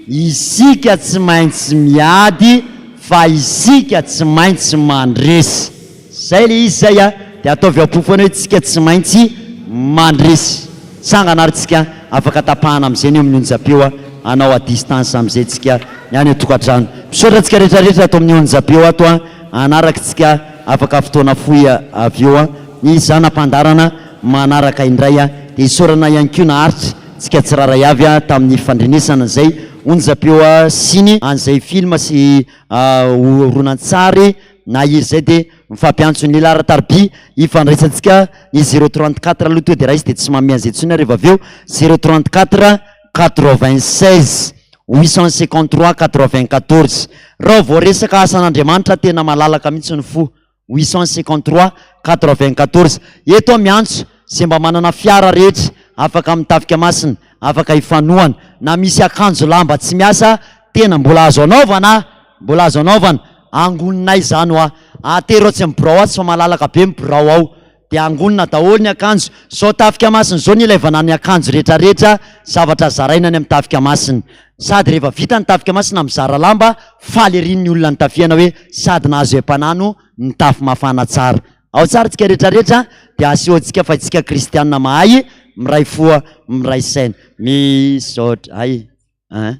isika tsy maintsy miady fa isika tsy maintsy mandresy. Zay le izy zay a, de ataovy ao am-po foana hoe tsika tsy maintsy mandresy tsangana ary tsika afaka tapahana amizay ny eo amin'ny onjam-peo a, hanao à distance amizay tsika ny any an-tokantrano. Misaotra antsika retraretra ato amin'ny onjam-peo ato a, hanaraka tsika afaka fotoana fohy avy eo a, ny zana-pandaharana manaraka indray a, de isaorana ihany koa naharitra tsika tsiraray avy a tamin'ny fandrenesana izay onjam-peo a sy ny an'izay film sy horonantsary na izy zay dia mifampiantso ny laharan-tarobia ifandraisantsika ny zero trente quatre aloha toa dia raha izy dia tsy manome an'izay intsony aho reva avy eo zero trente quatre quatre vingt seize huit cent cinquante trois quatre vingt quatorze raha vao resaka asan'Andriamanitra tena malalaka mihitsy ny fo huit cent cinquante trois quatre vingt quatorze eto aho miantso izay mba manana fiara rehetra afaka amin'ny tafika masina afaka hifanohana na misy akanjo lamba tsy miasa tena mbola azo anaovana Mbola azo anaovana, angonina izany hoa, atero atsy amin'ny birao atsy fa malalaka be ny birao ao, dia angonina daholo ny akanjo, zao tafika masina zao ny ilaivana ny akanjo rehetra rehetra, zavatra zaraina any amin'ny tafika masina, sady rehefa vita ny tafika masina mizara lamba, faly ery ny olona nitafihana hoe sady nahazo haim-panahy no nitafy mafana tsara. Ao tsara tsika rehetra rehetra dia asehoantsika fa itsika kristianina mahay miray fo miray saina. Misaotra. Hay an.